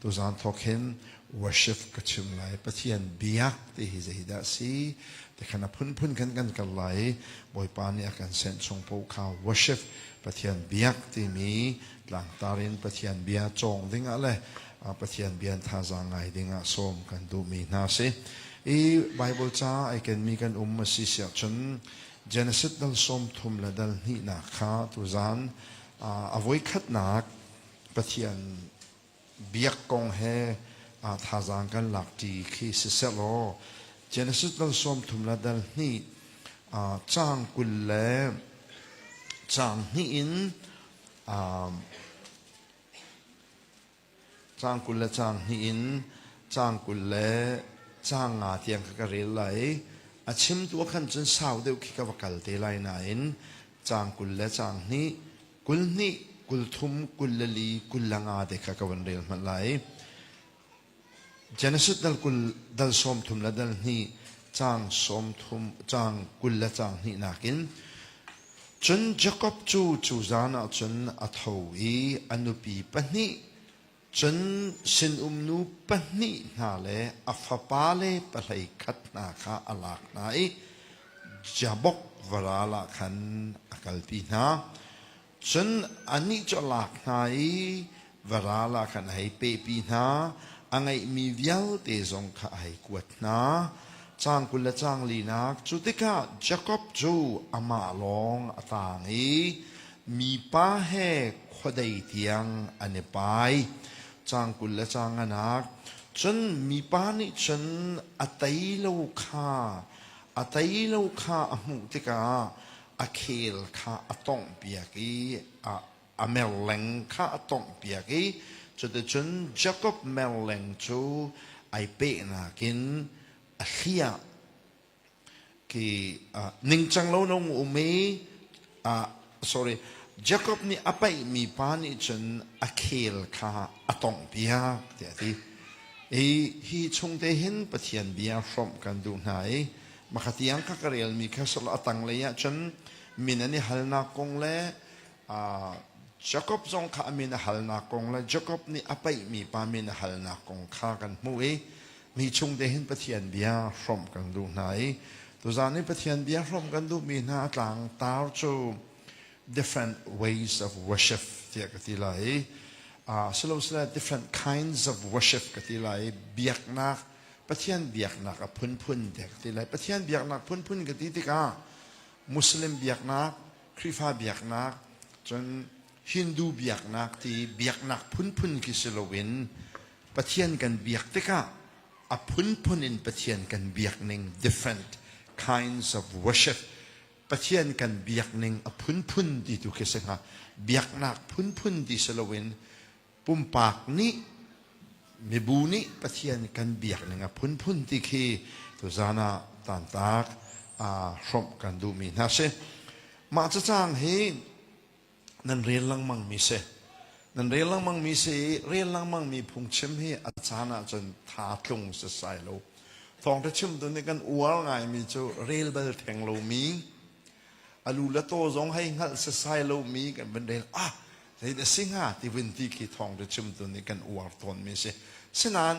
Tuzaan thawk hin worship ka chim lai. Pathian biak ti hi zeidah a si ti kha na phunphun khan kan kal lai i Bawipa nih a kan senh chung paoh kha worship Pathian biak timi tlangtar in Pathian bia cawng dingah le Pathian bia thazaang ngai dingah sawm kan duhmi hna si. I Bible ca ai kenmi kan um a si siah cun Genesis dal sawm thum le dal hnihnak kha tuzaan a voikhatnak Pathian biak kong he aa thazaang kan lakṭi khi siseh law Genesis dal sawmthum le dal hnih caang kul le caang hnih in caang kul le caang hnih in caang kul le caang nga tiang kha ka rel lai a chim tu khan cun sau deuh khi ka va kal te lai nain caang kul le caang hnih kul hnih kul thum kul le li kul le nga te kha ka van rel hmanh lai Genesis dal kul dal sawm thum le dal hnih cang sawm thum cang kul le cang hnih nakin cun Jacob cu cu zan ah cun a tho i a nupi pahnih Cun sinum nu pahnih hna le a fapale pahlei khat hna kha a lak hna i Jabok varal ah khan a kalpi hna. Cun anih cu a lak hna i varal ah khan a hei pehpi hna, a ngeihmi vialte zong kha a hei kuat hna. Cang kul le cang linak cu tikah Jakob cu amah lawng a tang i Mipa he khuadei tiang an i pai. Caang kul le caang nganak. Cun mipa nih cun a tei lo kha a tei lo kha a hmuh tikah a khel kha a tonghpiak i a, a merleng kha a tonghpiak i cuticun Jakob merleng cu ai pehnak in a hliah. ki uh, ningcang lo nong um i uh, sorry Jacob nih a paih mi pa nih cun a khel kha a tong piak tiah ti i hi chung te hin pathian bia hrom kan duh hna i makhatiang ka karel mi kha solo a tang lei ah cun min an i halnak kong le Jakob zong kha a min a halnak kong le Jakob nih a paihmi pa min a halnak kong kha kan hmuh i mi chungte hin Pathian bia hrawmh kan duh hna i tuzan i Pathian bia hrawmh kan duhmi hna tlang tar cu different ways of worship tiah ka ti lai i silosile different kinds of worship ka ti lai i biaknak Pathian biaknak a phunphun tiah ka ti lai Pathian biaknak phunphun ka ti tikah Muslim biaknak Khrihfa biaknak, cun Hindu biaknak ti biaknak phunphun khi si loin Pathian kan biak tikah a phunphun in Pathian kan biakning, different kinds of worship, Pathian kan biakning a phunphun ti tu khi si hnga. Biaknak phunphun ti si loin pumpak nih mibu nih pathian kan biak ning a phunphun ti khi tuzan ah tantak hrawmh kan duhmi hna si mah cacang hi nan rel lengmang mi si nan rel lengmang mi si rel lengmang mi phungchim hi a caan ah cun tha tlung si sai lo thawng te chim tu nih kan uar ngai mi cu rel bal theng lo mi alu le to zong hei hngalh si sai lo mi kan van rel ah Zei a si hnga tivin ti khi thawngṭa chimtu nih kan uar tawnmi a si. Sinain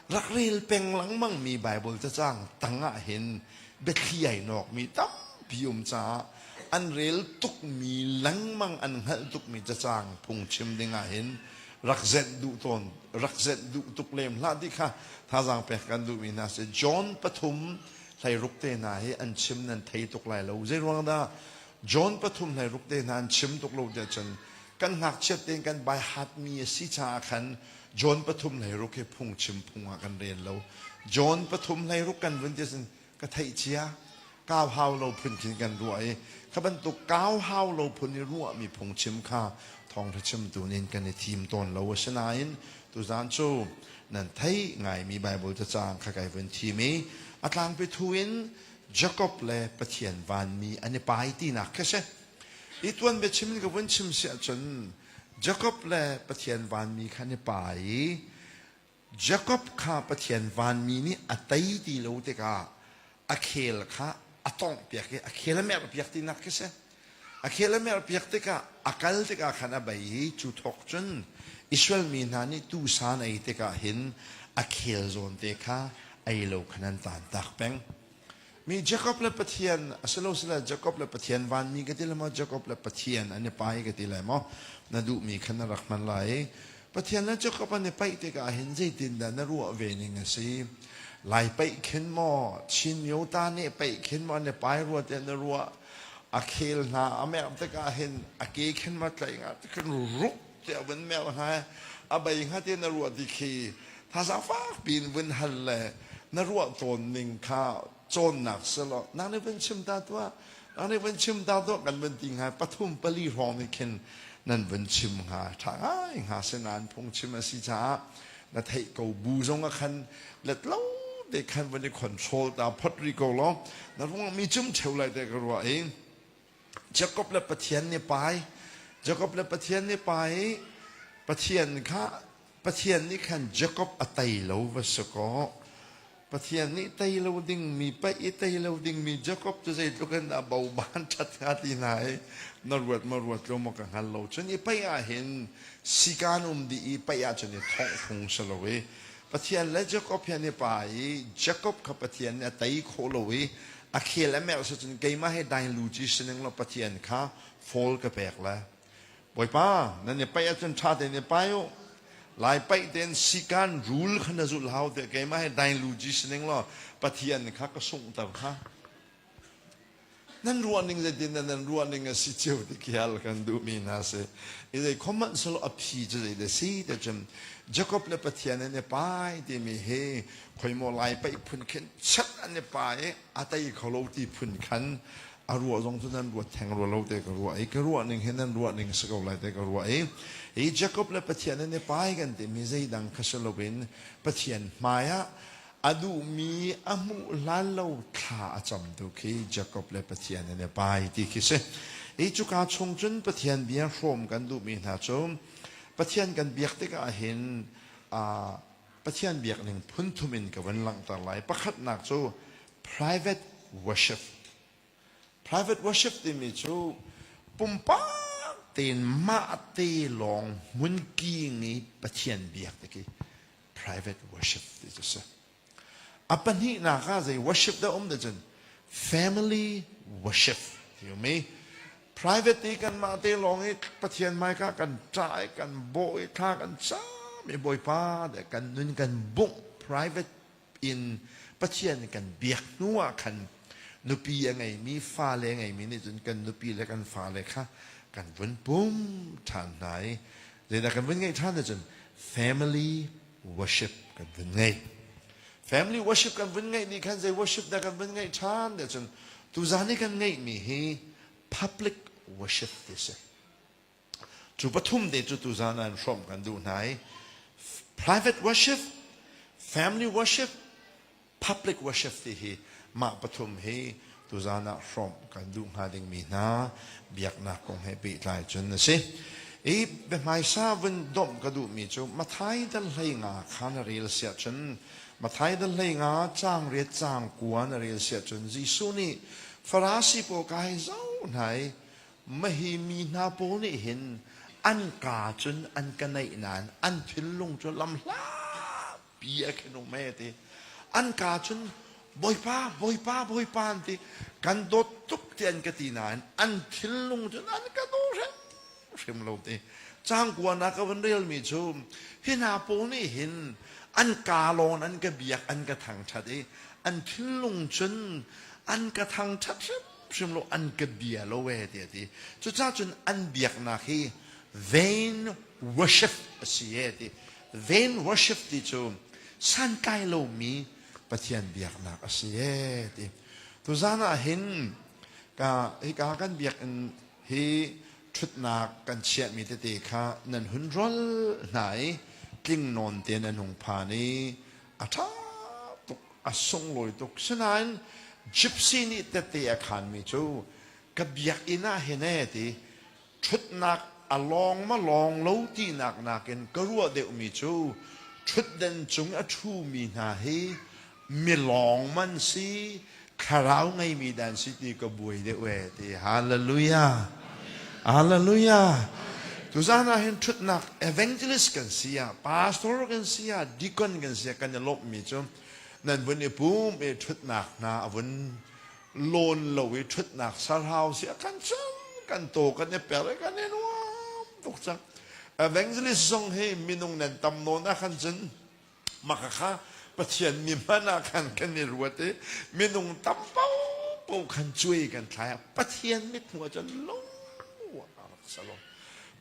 rak rel peng lengmangmi Baibal cacang tangah hin biathli ai nawkmi tampi um caah an rel tukmi lengmang an hngalh tukmi cacang phungchim dingah hin rak zenh duh tawn rak zenh duh tuk lem hlah ti kha thazaang pek kan duhmi hna si John pathum hleiruk te hna hi an chim nan thei tuk lai lo zeiruang dah John pathum hlei ruk tehna an chim tuk lo tiah cun kan ngakchiat tein kan baihatmi a si caah khan John pathum hlei ruk hi phungchim phung ah kan rel lo. John pathum hlei ruk kan vun ti cun ka theih cia. Kau hau lo phun khin kan ruah i kha bantuk kau hau lo phun i ruahmi phungchim kha thawngṭha chimtu nih kan i thim tawn lo. Asinain tuzan cu nan theih ngaimi Baibal cacang kha kai vun thim i a tlangpi thu in Jakob le Pathian vanmi an i pai tinak kha si. I tuan biachim in ka vun chim si ahcun Jakob le Pathian vanmi kha an i pai i Jakob kha Pathian vanmi nih a tei ti lo tikah a khel kha a tawngh piak i a khel a merh piak tinak khi si. A khel a merhpiak tikah a kal tikah khan a bei i cu thawk cun Israel mi hna nih tuusa an ei tikah hin a khel zawnte kha ei lo khan an tantak peng. Mi Jakob le Pathian a si lo sila Jakob le Pathian vanmi ka ti le maw Jakob le Pathian an i pai ka ti lai maw na duhmi khan na rak hman lai i Pathian le Jakob an i paih tikah hin zeitindah na ruah ve ning a si lai paih khin maw Chin myo ta nih paih khin maw an i pai rua tiah na ruah a khel hna a merh tikah hin a ke khen ma tlaih nga kan ruk tiah vun merh hna i a bei hnga te na ruah ti khi thazang fak piin vun hal le na ruah tawn ning kha cawnnak silo nang nih vun chim ta tuah nang nih vun chim ta tuah kan vun ti hnga pathum pali hrawng nih khin nan vun chim hnga ṭha ngai hnga sinain phungchim a si caah na theih ko bu zong ah khan let lo te khan van i control ta phot ri ko law na ruang mi cum cheu lai te ka ruwa i Jacob le Pathian ne pai Jacob le Pathian ne pai Pathian kha Pathian nih khan Jacob a tei lo va si kaw Pathian nih tei lo dingmi, paih i tei lo dingmi Jakob cu zeitluk in dah boban ṭhat hnga ti hna i na ruat maw ruat lo maw ka hngal lo. Cun i paih ahhin sikan um dih i paih ahcun i thongh phung si lo i Pathian le Jakob hi an i pa i Jakob kha Pathian nih a tei khawh lo i a khel a merh si cun keimah he dai luci si ning law Pathian kha foal ka pek le Bawipa, nan i paih ahcun ṭha tein i pai u. Lai paih tein sikan rul kha na zulh hau tiah keimah he dai luji si ning law Pathian kha ka sunghter hna. Nan ruah ning zeitin nan ruah ning a si cio ti khial kan duhmi hna si. I zei khom hmanh solo a phi cu zei de si te cun Jacob le Pathian an i pai timi hi khoimo lai paih phun khin chat an i pai i a tei kho lo ti phun khan a ruah zong cu nan ruat theng rua lo te ka ruah i ka ruahning hi nan ruahning si ko lai te ka ruah i hi Jacob le Pathian an i pai kan timi zeidang kha si loin Pathian hmaiah a duhmi a hmuh hlan lo thla a cam tu khi Jacob le Pathian an i pai ti khi si i cuka chung cun Pathian bia hrawm kan duhmi hna cu Pathian kan biak tikah hin Pathian biakning phunthum in ka vun langhter lai. Pakhatnak cu private worship. Private worship timi cu pumpak tein mahte lawng hmunki ngi Pathian biak ti khi private worship ti cu si. A pahnihnak ah zei worship dah um da cun family worship ti um i private i kanmah te lawng i pathian hmaika kan ṭah i kan bawh i thla kan cam i bawipa de kan nun kan bungh private in pathian kan biak hnu ah khan nupi a ngeimi fale ngeimi nih cun kan nupi le kan fale kha kan vun pum ṭhan hna i zeidah kan vun ngeih ṭhan cun family worship kan vun ngei family worship kan vun ngeih ni khan zei worship dah kan vun ngeih ṭhan nih cun tuzan i kan ngeihmi hi public worship ti si cu pathum te cu tuzan an hrawm kan duh hna i private worship family worship Public worship ti hi mah pathum hi tuzaan ah hrawmh kan duh hnga dingmi hna biaknak kong he pehtlai cun a si. I biahmaisa vun domh ka duhmi cu Matthai dal hlei nga kha na rel siah cun Matthai dal hlei nga caang riat caang kua na rel siah cun Jesuh nih Farasi pawl ka hei zoh hna i mahi mi hna pawl nih hin an kaa cun an ka naih nain an thinlung cu lamhla pi a khen um e ti an ka cun bawipa bawipa bawipa an ti kan dawt tuk ti an ka ti nain an thillung cun an ka daw hrim hrim lo ti cangkuan ah ka van relmi cu hi hna pawl nih hin an ka lon an ka biak an ka thangthat i an thillung cun an ka thangthat hrim hrim lo an ka bia lo e ti ti cucacun an biaknak hi vain worship a si e ti Vain worship ti cu santlai lomi Pathian biaknak a si e ti. Tuzan ah hin ka hika kan biakinn hi ṭhutnak kan chiahmi tete kha nan hun rol hna i tling nawn te nan hung phan i a ṭha tuk a sunglawi tuk sinain gypsy nih tete a khanmi cu ka biakinn ah hin e ti ṭhutnak a lawng maw lawng lo tinak nakin ka ruah deuhmi cu ṭhutden cung a ṭhumi hna hi milawng man si thlarau ngeimi dan si ti ka buai deuh ee ti hallelujah hallelujah tuzan ah hin ṭhutnak evangelist kan si ah pastor kan si ah deacon kan si ah kan i lawmhmi cu nan vun i pum i ṭhutnak hna a vun lawn lo i ṭhutnak sarhau si a kan cam kan taw kan i per i kan i nuam tuk cang evangelist zong hi minung nan tam nawn ah khan cun maka kha pathian mi hman ah khan kan i ruat i minung tam popo khan cuai kan thlai a pathian mithmuh ah cun lo a rak salon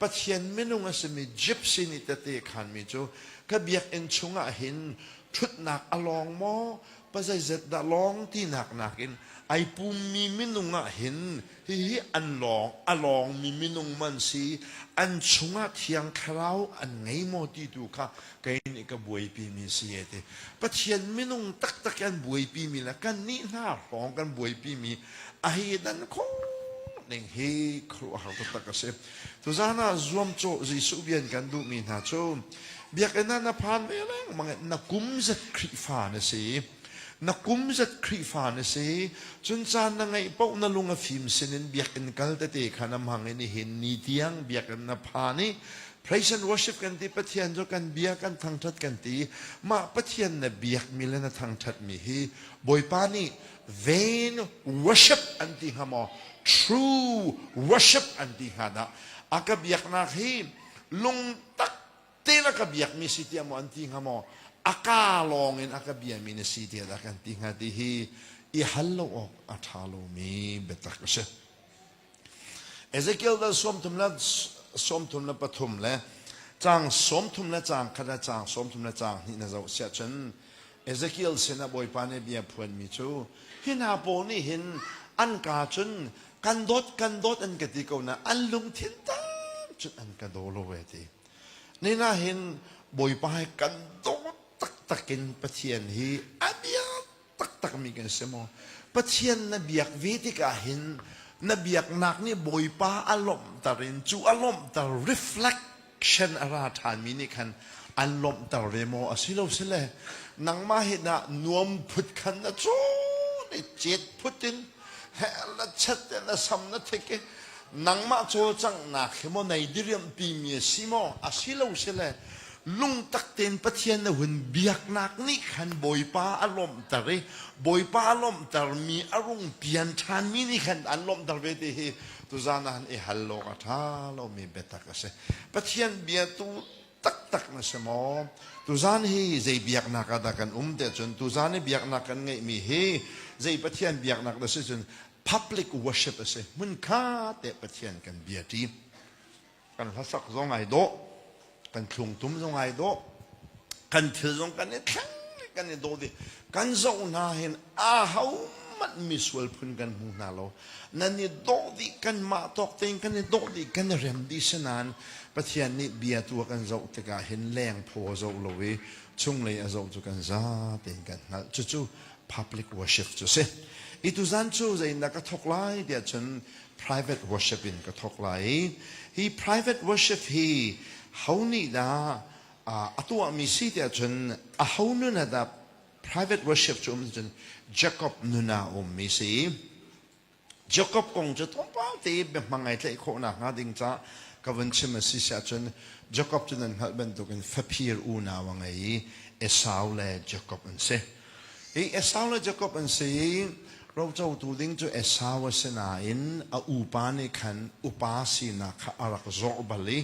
pathian minung a simi gypsy nih tete khan mi cu ka biakinn chungah hin ṭhutnak a lawng maw Pazeizat dah lawng tinak nakin ai pummi minung ah hin hihi an lawng a lawngmi minung man si an chungah thiang thlarau an ngei maw ti tu kha kei nih ka buaipimi si e ti Pathian minung taktak an buaipimi le kan nih hna hrawng kan buaipimi a hi dan khawh ning hi khuruahhar taktak a si Tuzan ah zuamcawh Jesuh bian kan duhmi hna cu Biakinn ah na phan ve lengmang i na kum zet Khrihfa na si. Na kum zet Khrihfa na si. Cun caan na ngeih paoh na lung a fim sinin biakinn kal tete kha na hmang i nihin ni tiang biakinn na phan i praise and worship kan ti, Pathian cu kan bia kan thangṭhat kan ti. Mah Pathian na biakmi le na thangṭhatmi hi Bawipa nih vain worship an ti hnga maw true worship an ti hnga dah a ka biaknak hi lungtak te na ka biakmi si tiah maw an ti hnga maw a ka lawng in a ka biami na si tiah dah kan ti hnga ti hi i hal lo awk a ṭha lomi biatak a si Ezekiel vel sawmthum le sawmthum le pathum le caang sawmthum le caang khat le caang sawmthum le caang hnih na zoh siah cun Ezekiel sinah Bawipa nih bia phuanmi cu hi hna pawl nih hin an ka cun kan dawt kan dawt an ka ti ko na an lungthin tam cun an ka daw lo ve ti nina hin Bawipa he kan dawt taktak in Pathian hi a bia taktakmi kan si maw? Pathian na biak ve tikah hin na biaknak nih Bawipa a lawmhter in cu a lawmhter reflection a ra ṭhanmi nih khan an lawmhter ve maw? A si lo si le nangmah hi na nuam phut khan na cun i cet phut in hell na chet in na sam na thik i nangmah cawlcanghnak hi maw nei diriamhpimi a si maw? A si lo si le Lungtak tein Pathian na hun biaknak nih khan Bawipa a lawmhter i Bawipa a lawmhtermi a rung pian ṭhanmi nih khan an lawmhter ve ti hi tuzaan ah i hal awk a ṭha lomi biatak a si. Pathian biatu taktak na si maw? Tuzaan hi zei biaknak ah dah kan um te cun tuzaan i biaknak kan ngeihmi hi zei Pathian biaknak dah si cun public worship a si. Hmunkha te Pathian kan biaṭi. kan hlasak zong ai dawh kan thlungtum zong ai dawh kan thil zong kan i thleng kan i dawh dih kan zoh hna hin a ho hmanh misual phun kan hmu hna lo nan i dawh dih kan mah tawk tein kan i dawh dih kan i rem dih sinan pathian nih bia tu a kan zoh tikah hin leng phaw a zoh lo i chunglei a zoh cu kan za tein kan hngalh cucu public worship cu si i tuzan cu zei na ka thok lai tiah cun private worship in ka thawk lai i hi private worship hi ho nih dah a tuahmi si ti ahcun aho nun ah dah private worship cu um cun Jacob nun ah a ummi si Jacob kong cu thawngpang te biahmang ai tlaih khawh nakhnga ding ca ka vun chim a si si ahcun Jacob cu nan hngalh bantukin faphir unau a ngei i Esau le Jacob an si. Hi Esau le Jakob an si i rocotu ding cu Esau a si nain a upa nih khan upa sinak kha a rak zawrh bal i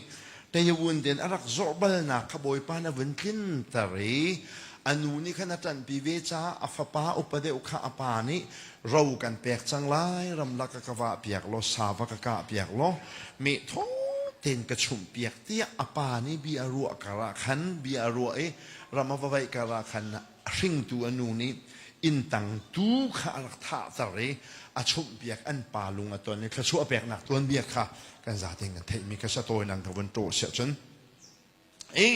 teivun tein a rak zawrh balnak kha Bawipa nih a vun tlinter i a nu nih khan a ṭanhpi ve caah a fapa upa deuh kha a pa nih ro kan pek cang lai, ramlak ka ka vahpiak law sava ka kahpiak law mehthaw tein ka chumhpiak tiah a pa nih bia a ruah karah khan bia a ruah i ram a va vaih karah khan a hringtu a nu nih inntang tu kha a rak thahter i a chumhpiak an pa lung a ton i thluachuah peknak tuanbia kha kan zate in kan theihmi kha sa tawinan ka vun ṭawh siah cun i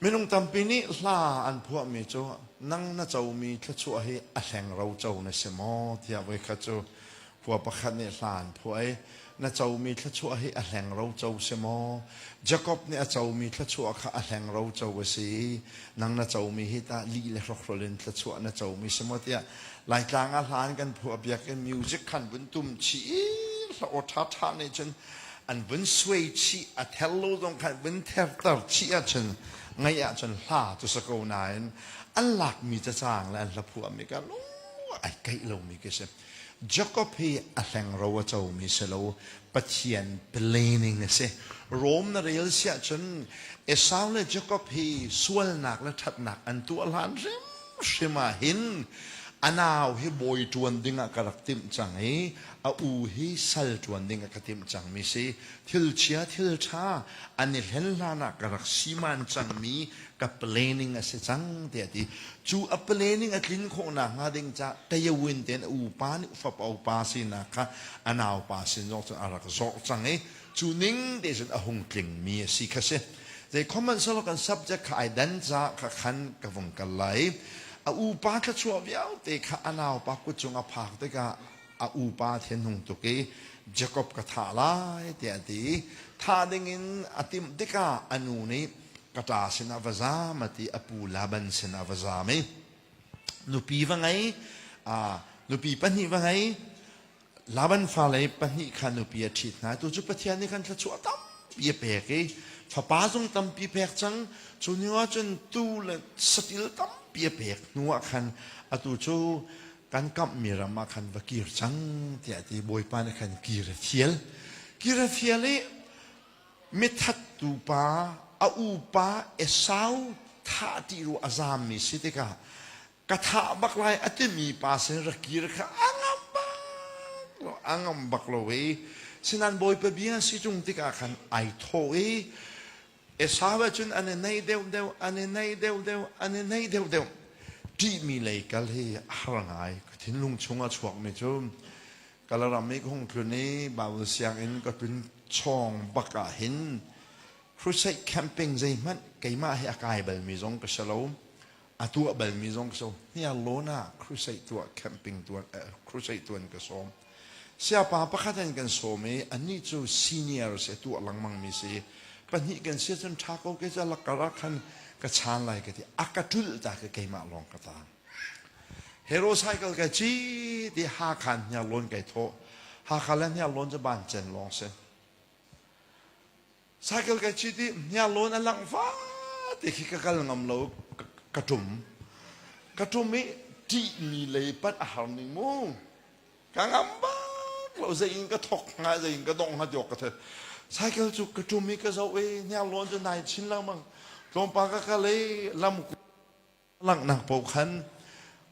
minung tampi nih hla an phuahmi cu nang na comi thluachuah hi a hlengro co na si maw tiah voi khat cu Khua pakhat nih hla an phuah i na comi thluachuah hi a hlengro co si maw? Jakob nih a comi thluachuah kha a hlengro co a si i nang na comi hi tah lih le hrokhrawl in thluachuah na comi si maw? tiah Laitlang ah hla an kan phuahpiak i music kha an vun tum chih i hla aw ṭhaṭha nih cun an vun suai chih, a ther lo zong kha an vun therter chih ahcun ngaih ahcun hla cu si ko nain an lakmi cacang le an hla phuahmi kha lung ai kaih lomi khi a si. Jacob hi a hlengro a comi si lo, Pathian planning a si. Rom na rel si ahcun Esau le Jacob hi sualnak le ṭhatnak an tuah hlan hrimhrim ah hin a nau hi bawi ṭuan dingah ka rak timh cang i a u hi sal ṭuan dingah ka timh cangmi si. Thil chia thil ṭha an i hlen hlanah ka rak siman cangmi ka planning a si cang tiah a ti cu a planning a tlin khawh nakhnga ding ca Tayawin tein a upa nih fapa upa sinak kha a naupa sin zong cun a rak zorh cang i cu ning te cun a hung tlingmi a si kha si zei comment selaw kan subject kha ai dan ca kha khan ka vung kal lai a upa thluachuah vialte kha a naupa kut cung a phak tikah a upa thinhung tuk i Jakob ka thah lai tiah a ti i thah dingin a timh tikah a nu nih ka ṭa sinah va zam a ti a pu Laban sinah va zam i nupi va ngei aa nupi pahnih va ngei Laban fale pahnih kha nupi a ṭhit hna tu cu Pathian nih khan thluachuah tampi a pek i fapa zung tampi pek cang cu ni ah cun tuu le saṭil tampi a pek hnu ah khan atu cu kan kamhmi ram ah khan va kir cang tiah ti bawipa nih khan kir a fial kir a fial i mithattu pa a upa esau thah ti ru a zammi si tikah ka thah bak lai a timi pa sin ra kir kha a ngam bak lo a ngam bak lo i sinan bawipa bia si chung tikah khan ai thaw i Esau ahcun an i neih deuhdeuh, an i neih deuhdeuh, an i neih deuhdeuh. Ṭihmi lei kal hi a har ngai. Ka thinlung chung a chuakmi cu ka ram i ka hung tlun i Baibal sianginn ka tlun chawng bak ah hin crusade camping zeihmanh keimah he a kai balmi zong ka si lo. A tuah balmi zong ka sawm. Hniarlawn ah crusade tuah, camping tuan, eh, crusade tuan ka sawm. Siapa pakhat an kan sawm i anih cu senior si, a tuah lengmangmi si. Pahnih kan si cun ṭha ko ke ca lakkar ah khan ka chan lai ka ti. A ka ṭulh ta ka keimah lawng ka taang. Hero cycle kai ci ti Hakhan hniarlawn kai thawh. Hakha le hniarlawn cu ban chen lawng si. cycle kai chit i hniar lawn a lang fa te khi ka kal ngam lo ka, ka tum ka tum i ṭih mi lei panh a har ning mu ka ngam bak lo zei in ka thok hnga zei in ka dong hnga tiok ka the cycle cu ka tum i ka zoh i hniar lawn cu nai chin lengmang tlawmpal ka kal i lam Ka langhnak paoh khan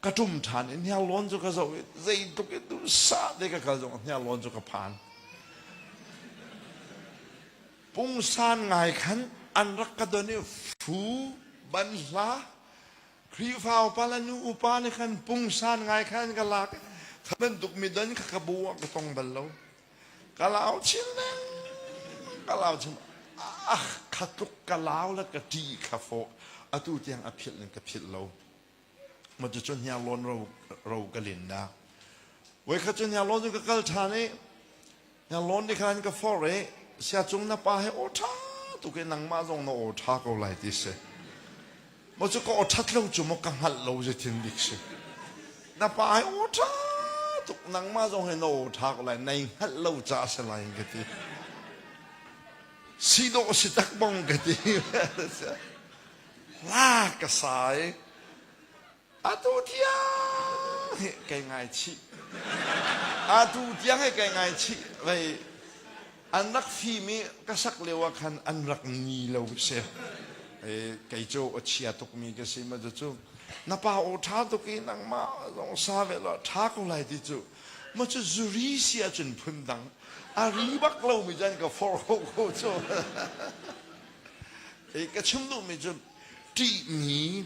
ka ṭum ṭhan i hniarlawn cu ka zoh i zeitluk i dursah te ka kal zong hniarlawn cu ka phan. Pungsan ngai khan an rak ka don i fu ban hla Khrihfa upa le nu upa nih khan pungsan ngai khan ka lak i tha bantuk mi don kha ka bu ah ka tong bal lo. ka lau chin leng ka lau chin ah kha tluk ka lau la ka ṭi kha fawh atu tiang a philh in ka philh lo ma cu cu hnia lon ro ro ka lin da voi kha cu hnia lon cu ka kal ṭhan i hnia lon ni khan ka for e sia cung na pa he aw ṭha tu ke nangmah zong na aw ṭha ko lai ti si Maw cu ka aw ṭhat lo cu maw ka hngalh lo zei thil dik si. Na pa hi aw ṭha tuk nangmah zong hi na aw ṭha ko lai nai hngalh lo caah a si lai ka ti. Si dawh a si tak bong ka ti. La ka sai. Atu tiang hi kai ngaichih. Atu tiang hi kai ngaichih. Vei, an rak fim i ka sak lio ah khan an rak ni lo si. E, kei cu a chia tukmi ka si ma cucu. Na pa aw ṭha tuk i nangmah zong sa ve law ṭha ko lai ti cu. Maw cu zuri si ahcun phundang. A ri bak lomi cu an ka forh ko ko cu. E, ka chim duhmi cu ṭihmi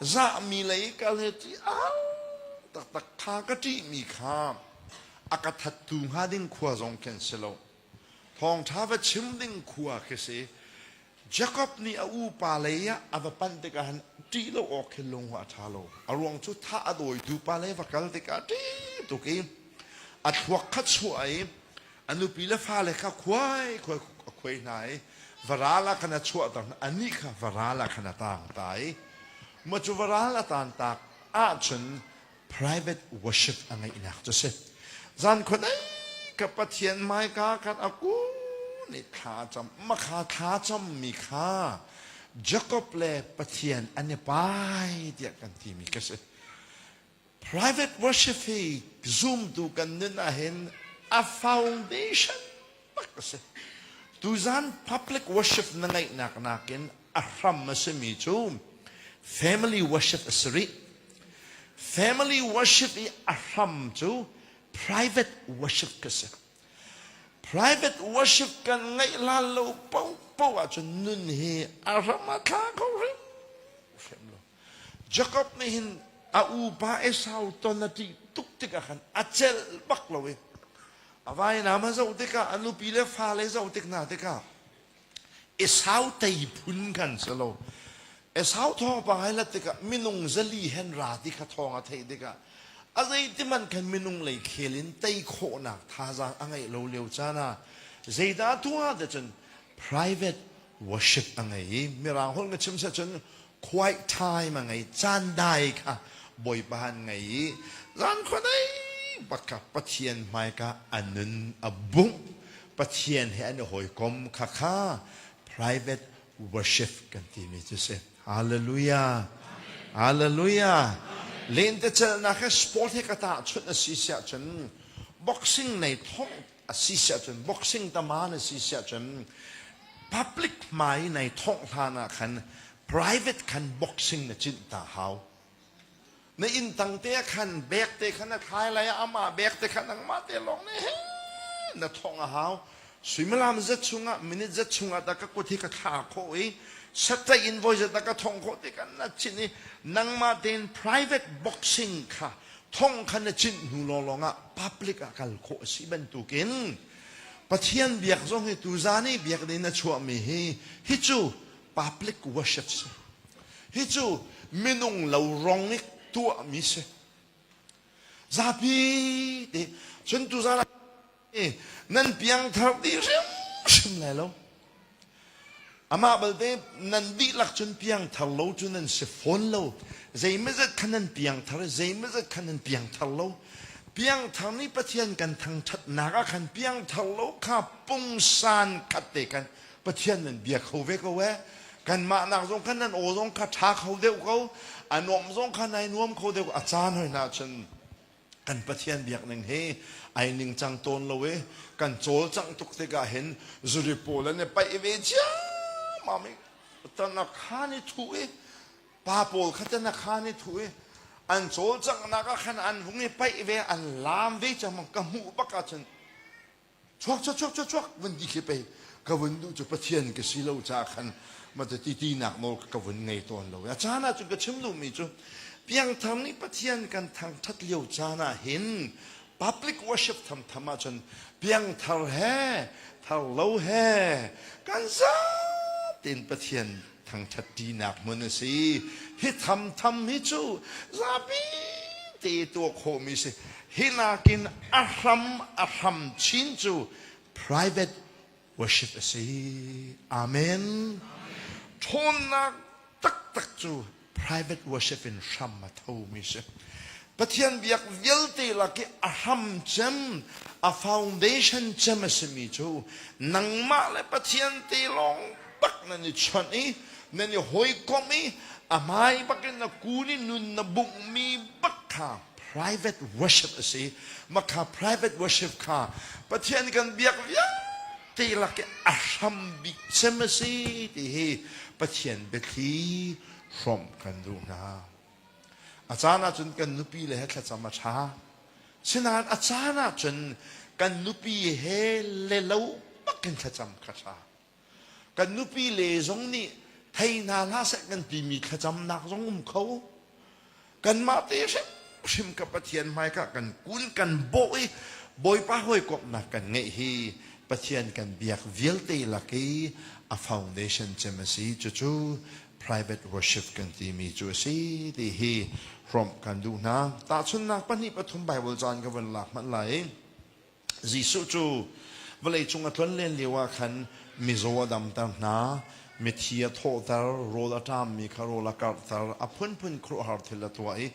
zahmi lei kal hi ṭih a taktak ṭha ka ṭihmi kha a ka thattu hnga ding khua zong khi an si lo thawngṭha va chim ding khua khi si Jacob nih a upa lei ah a va pan tikah han ṭih lo awk khi lung a ṭha lo a ruang cu thah a dawitu pa lei va kal tikah ṭih tuk i a thluak khat chuah i a nupi le fale kha khuai khuai a khuai hna i varal ah khan a chuahter anih kha varal ah khan a taang ta i mah cu varal a taan tak ahcun private worship a ngeihnak cu si zan khuan ai ka pathian hmaika khan a ku nih thla a cam mah kha thla cammi kha jacob le pathian an i pai tiah kan timi ka si Private worship hi zumtu kan nun ahhin a foundation tak a si. Tuzan public worship na ngeihnak nakin a hram a simi cu family worship a si rih. Family worship i a hram cu private worship ka si. Private worship kan ngeih lal lo paohpaoh ahcun nun hi a ram a tla kho hrim hrim lo. Jacob nih hin a upa Esau ton a ṭih tuk tikah khan a celh bak lo i a vainam a zoh tikah a nupi le fale zoh tik hna tikah Esau tei phun khan si lo Esau thawngpang hai lat tikah minung zali hen ra ti kha thawng a theih tikah a zeitihmanh khan minung lei khel in tei khawhnak thazaang a ngeih lo lio caan ah zeidah a tuah ah cun private worship a ngei i mirang holh nga chim seh cun quiet time a ngei caan dai kha bawipa an ngei i zan khuanei bakka pathian hmaika an nun a bungh pathian he an i hawikom kha kha private worship kan timi cu si hallelujah hallelujah lente celnak he sport he ka tahchunh a si siah cun boxing nei thong a si siahcun boxing tama na si siahcun public hmai nai thawngh hlan ah khan private khan boxing na cinh ta hau na inn tang te ah khan bek te khan na thlai lai ah ama bek te khan angmah te lawng ne na thawng a hau suimalam zat chungah minute zat chungah ta ka kut hi ka thla kho i satta invoice zat ka thong kho ti kan na chin i nangmah tein private boxing kha thong khan a chinh hnu lawlawng ah public ah kal khawh a si bantukin Pathian biak zong hi tuzan i biak ding in a chuahmi hi hi cu public worship si hi cu minung lo rong i tuahmi si zapi te cun tuzan nan piangthar dih hrimhrim lai lo amah balte nan dihlak cun piangthar lo cu nan si fawn lo zeimazat khan nan piangthar zeimazat khan nan piangthar lo piangthar nih pathian kan thangṭhatnak ah khan piangthar lo kha pungsan khat te khan pathian nan bia kho ve ko e kanmah nak zong khan nan aw zong kha ṭha kho deuh ko a nuam zong kha nai nuam kho deuh a caan hoi na cun kan Pathian biakning he ai ningcang tawn lo i kan cawlcangh tuk tikah hin zuri pawl an i paih ve ciammam i tanakhan i thu i pa pawl kha tanakhan i thu i an cawlcanghnak ah khan an hung i paih ve an laam ve cangmang ka hmuh bak ah cun chuak chuak chuak chuak chuak vun ti khi pei ka vun duh cu pathian ka si lo caah khan mata titi nak nawl ka vun ngei tawn lo a caan ah cu ka chim duhmi cu piangthar nih pathian kan thangthat lio caan ah hin public worship tham tham ah cun piangthar he thar lo he kan zat in pathian thangṭhatṭinak hmun a si. Hi thamtham hi cu zapi te tuah khawhmi si. Hi nakin a hram a hram chin cu private worship a si. Amen. Ṭhawnnak taktak cu private worship in hram a thomi si. Pathian biak vialte lak i a hram cem, a foundation cem a simi cu nangmah le Pathian te lawng bak nan i chawnh i nan i hawikomh i a hmai bakin na kun i nun na bunghmi bak kha private worship a si. Mah kha private worship kha Pathian kan biak vialte lak i a hram bik cem a si ti hi Pathian biathli hrawmh kan duh hna. A caan ahcun kan nupi le he thlacam a ṭha. Sinain a caan ahcun kan nupi he le lo bak in thlacam kha ṭha. Kan nupi le zong nih thei hna hlah seh kan timi thlacamnak zong um kho. Kanmah te hrimhrim ka Pathian hmaika kan kun kan bawh i Bawipa hawikomhnak kan ngeih hi Pathian kan biak vialte lak i a foundation cem a si. Cucu private worship kan timi cu a si ti hi hrawmh kan duh hna. Tahchunhnak pahnih pathum Baibal caan ka van lak hmanh lai i Jesuh cu vawleicung a tluan len lio ah khan mizaw a damter hna, mithi a thawhter, rawl a ṭammi kha rawl a karhter, a phunphun khuaruahhar thil a tuah i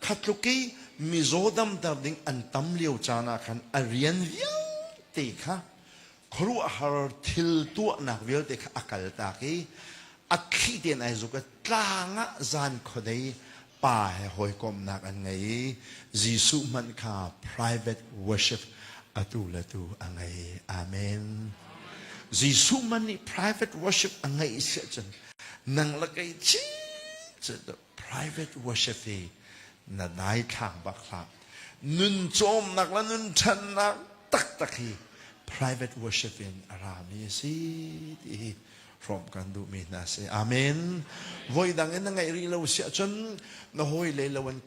kha tluk i mizaw damter ding an tam lio caan ah khan a rian vialte kha khuaruahhar thil tuahnak vialte kha a kaltak i a thli tein ai zuk i tlang ah zan khuadei pa he hawikomhnak an ngei i Jesuh hmanh kha private worship atu le tu a ngei. Amen. Jesuh hmanh nih private worship a ngeih si ahcun nang le kei chin cun private worship hi na dai thlang bak hlah nun cawmnak le nun ṭhannak taktak hi private worship in a rami a si ti hi hrawm kan duhmi hna si amen voi dang in na ngeih rih lo si ahcun na hawi le lo an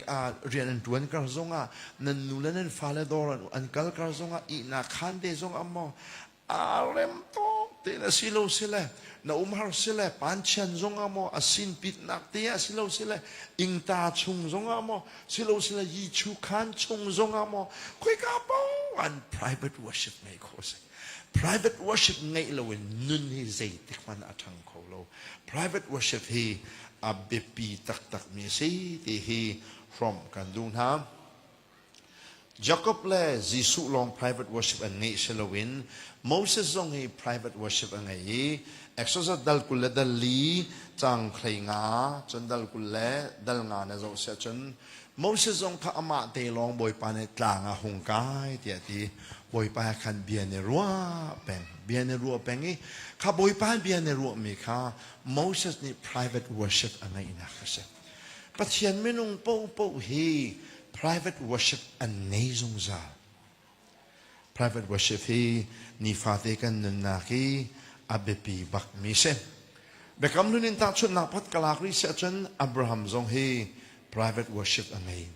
rian an ṭuan kar zongah nan nu le nan fale dawr an kal kar zongah ihnak khan te zong ammaw Aa rem tuk tein a si lo sile, na umhar sile, panchian zongah maw, a sinpitnak te ah si lo sile, ingta chung zongah maw, si lo sile yichu khan chung zongah maw, khoika paohan private worship ngei khawh a si. Private worship ngeih loin nun hi zeitik hmanh a ṭhang kho lo. Private worship hi a biapi taktakmi a si ti hi hrawmh kan duh hna. Jakob le Jesuh lawng private worship an ngeih si loin Moses zong hi private worship a ngei i Exodus dal kul le dal li canghlei nga cun dal kul le dal nga na zoh siah cun Moses zong kha amah te lawng Bawipa nih tlang ah hung kai tiah ti Bawipa he khan bia nih rua peng bia nih rua peng i kha Bawipa bia nih ruahmi kha Moses nih private worship a ngeihnak a si. Pathian minung paohpaoh hi private worship an nei zungzal. Private worship hi nifate kan nunnak hi a biapi bakmi si. Biakam nun in tahchunhnak pot ka lak rih si ahcun Abraham zong hi private worship a ngei.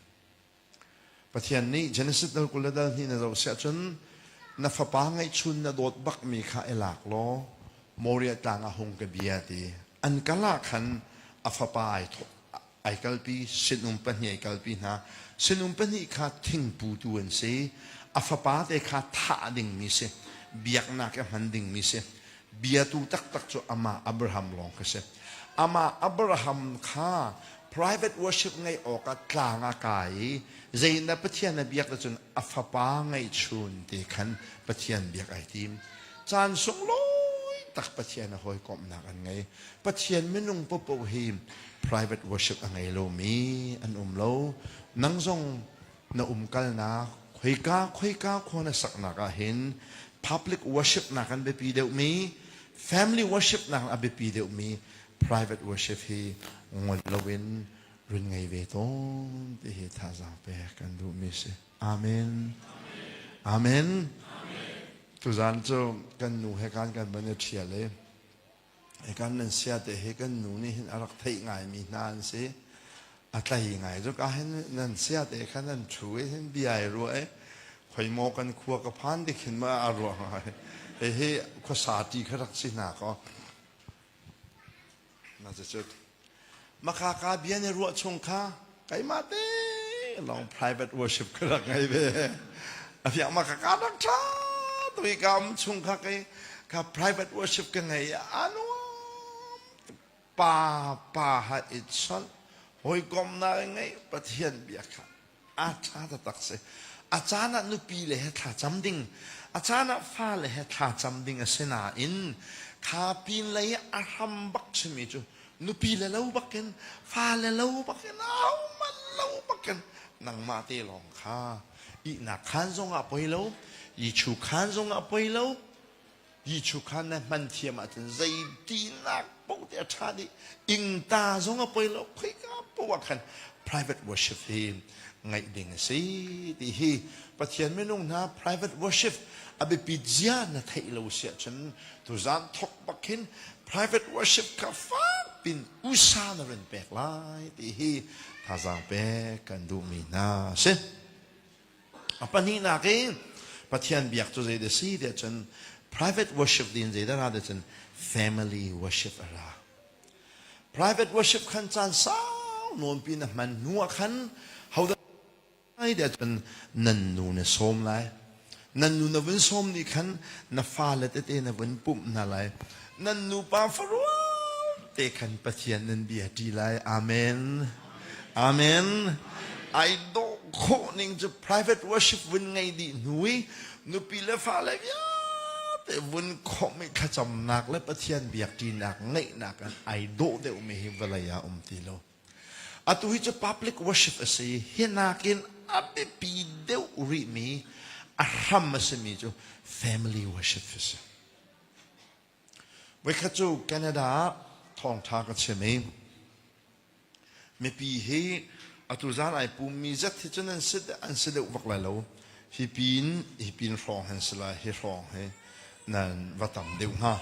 Pathian nih Genesis dal kul le dal hnih na zoh si ahcun na fapa ngeihchun na dawt bakmi kha i lak law Moriah tlang ah hung ka bia ti an kal ah khan a fapa ai thawh ai kalpi sinum pahnih ai kalpi hna sinum pahnih kha thingputu an si a fapa te kha thah dingmi si biaknak i hman dingmi si biatu taktak cu amah Abraham lawng khi si. Amah Abraham kha private worship ngeih awkah tlang a kai i zei na Pathian a biak ahcun a fapa ngeihchun ti khan Pathian biak ai tim. Caan sunglawi tak Pathian a hawikomhnak an ngei. Pathian minung paohpaoh hi private worship a ngei lomi an um lo. Nang zong na umkalnak, khoika khoika khua na saknak ah hin public worshipnak an biapi deuhmi, family worshipnak a biapi deuhmi private worship hi ngol loin run ngei ve tawn ti hi thazaang pek kan duhmi si. Amen. Amen. Tuzan cu kan nu he kan kan van i ṭhial i Kan nan sia te hi kan nu nih hin a rak theih ngaimi hna an si. A tlai ngai tuk ahhin nan sia te kha nan ṭhu i hin bia ai ruah i khoi maw kan khua ka phan ti khin ma a ruah hnga. Hihi khuasa ṭi kha rak si hna kaw. Na cu Makhaka bia nih ruah chung kha keimah te lawng private worship ka rak ngei ve. A fiang makhaka rak ṭha tu i ka um chung kha kei ka private worship ka ngei i anuam pa pa ha i chawnh hawikomnak i ngei Pathian bia kha a ṭha taktak si. A caan ah nupi le he thlacam ding, a caan ah fale he thlacam ding a si nain kha pinlei i a hram bak simi cu nupi le lo bakin fale lo bakin ahohmanh lo bakin nangmah te lawng kha ihnak khaan zongah poi lo, i thu khaan zongah poi lo, Ti chu kha na hman thiam ahcun zeitinnak poh te a ṭha dih. Ingta zong a poi lo, khoika poh ah khan private worship hi ngaih ding a si ti hi Pathian minung hna private worship a biapit zia na theih lo si ahcun tuzan thok bak hin private worship kha fak in usa na run pek lai ti hi thazaang pek kan duhmi hna a si. A pahnihnak i Pathian biak cu zeidah si tiah cun private worship din zeidah ra tiah cun family worship a ra. Private worship khan caan sau nawnpi na hman hnuah khan hodah ai tiah cun nan nu na sawm lai. Nan nu na vun sawm nih khan na fale tete na vun pumh hna lai. Nan nupa farual te khan Pathian nan bia ṭi lai. Amen. Amen. Ai dawh khawh ning cu private worship vun ngei dih hnu i nupi le fale vialte vun khawmh i thlacamnak le Pathian biakṭinak ngeihnak in ai dawh deuhmi hi vawlei ah um ti lo. Atu hi cu public worship a si. Hi nakin a biapi deuh rihmi, a hram a simi cu family worship a si. Voikhat cu Canada ah thawngṭha ka chim i mipi hi atu zan ai pummi zat hi cun an si an si deuh bak lai lo. Hi pin hi pin hrawng hin si lai hi hrawng hi nan va tam deuh hnga.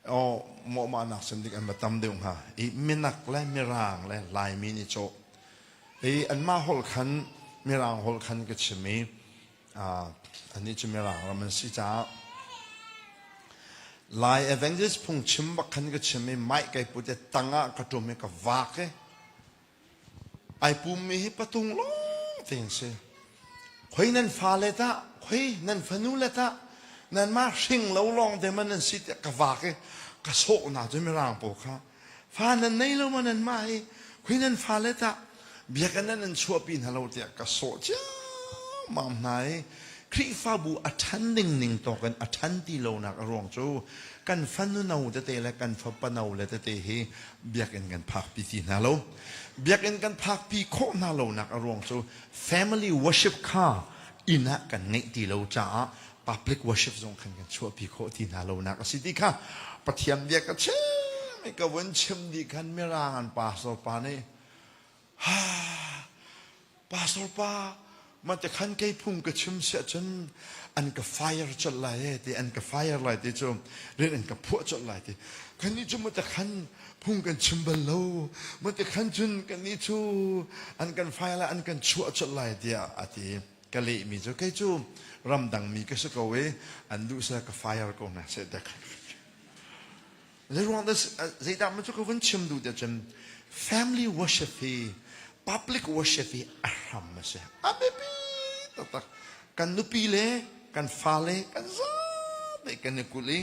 O mawhmahnak sin dik an va tam deuh hnga. I minak le mirang le laimi nih cawh. I anmah holh khan mirang holh khan ka chim i Annih cu mirang ram an si caah Lai Evangelist phungchim bak khan ka chim i mai kai put i tang ah ka ṭum i ka vak i ai pummi hi patung lawng te an si. Khoi nan fale ta, khoi nan fanu le ta, nan ma hring lo lawng de man an si tiah ka vak i ka sawh hna cu mirang pawl kha fa nan nei lo ma nanmah i khui nan fale tah biakinn ah nan chuahpi hna lo tiah ka sawh ciammam hna i Khrihfabu a ṭhan dingning tawkin a ṭhan ti lonak a ruang cu kan fanu no tete le kan fapa no le tete hi biakinn kan phakpi ti hna lo biakinn kan phakpi khawh hna lonak a ruang cu family worship kha inn ah kan ngeih ti lo caah public worship zong khan kan chuahpi khawh ti hna lonak a si ti kha Pathian bia ka chim i ka vun chim dih khan mirang an pastor pa nih ha pastor pa mah te khan kei phung ka chim si ahcun an ka fire colh lai e ti an ka fire lai ti cu rin an ka phuah colh lai ti kan nih cu mate khan phung kan chim bal lo mate khan cun kan nih cu an kan fire lai an kan chuah colh lai tiah a ti ka lehmi cu kei cu ramdangmi ka si ko i an duhsah ka fire ko hna sai dek zeiruang zeidah ma cu ka vun chim duh tiah cun family worship hi public worship hi a hram a si a biapi taktak kan nupi le kan fale kan zate kan i kul i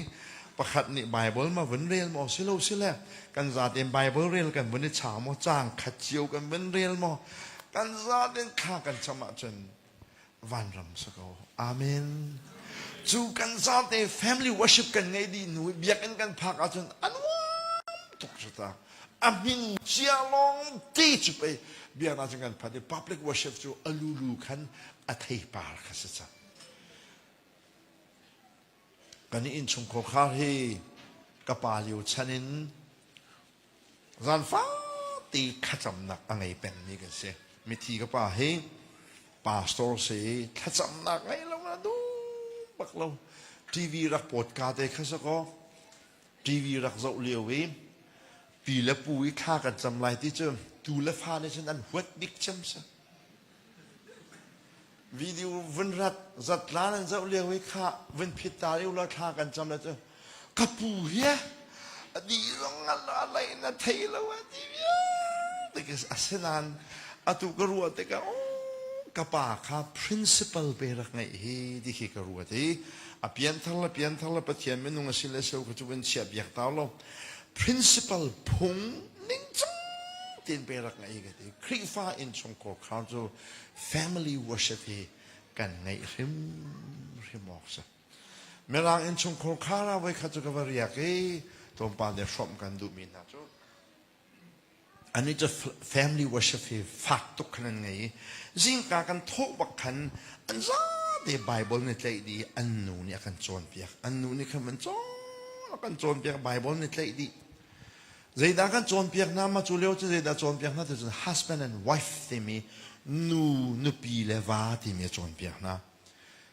pakhat nih bible ma vun rel maw si lo si le kan zate bible rel kan vun i cha maw cang khat cio kan vun rel maw kan zaten thla kan cam ahcun vanram sa ko amen cu kan zate family worship kan ngei dih nu biakinn kan phak ahcun a nuam tuk sutak a min cia long ti cu pei biakna cun kan phat i public worship cu a lulu khan a theipar kha si cang kan i innchungkhar khar hi ka pa lio chan in zanfa te thlacamnak a ngei pengmi kan si mithi ka pa hi pastor si thlacamnak ngei lo na duh bak lo tv rak potka te kha sako tv rak zoh lio i pi le pu i thla kan cam lai ti cu tu le fa nih cun an huat bik cem sa Video vun rat zat la nan zoh lio i kha vun phit ta lio la thla kan cam la cu ka pu hi a di zong a lei na thei lo a ti asinan atu ka ruah tikah ka pa kha principal pe rak ngei hi ti khi ka ruat i a pian thar la pian thar la pathian minung a si le so ka cu in chiah biak tau lo principal phung ningcang tein pe rak ngei ka ti Khrihfa innchungkhar kha cu family worship hi kan ngei hrim hrim awk si mirang innchungkhar kha ra voi kha cu ka va riak i tlawmpal nih hrawmh kan duhmi hna cu An cu family worship hi fak tuk khan an ngei i zingka kan thawh bak khan an zate Bible ni tlaih dih an nu nih a kan cawnpiak an nu nih khan an cawn a kan cawnpiak Bible ni tlaih dih zeidah kan cawnpiak hna mah cu leo cu zeidah cawnpiak hna ti cun husband and wife timi nu nupi le va timi a cawnpiak hna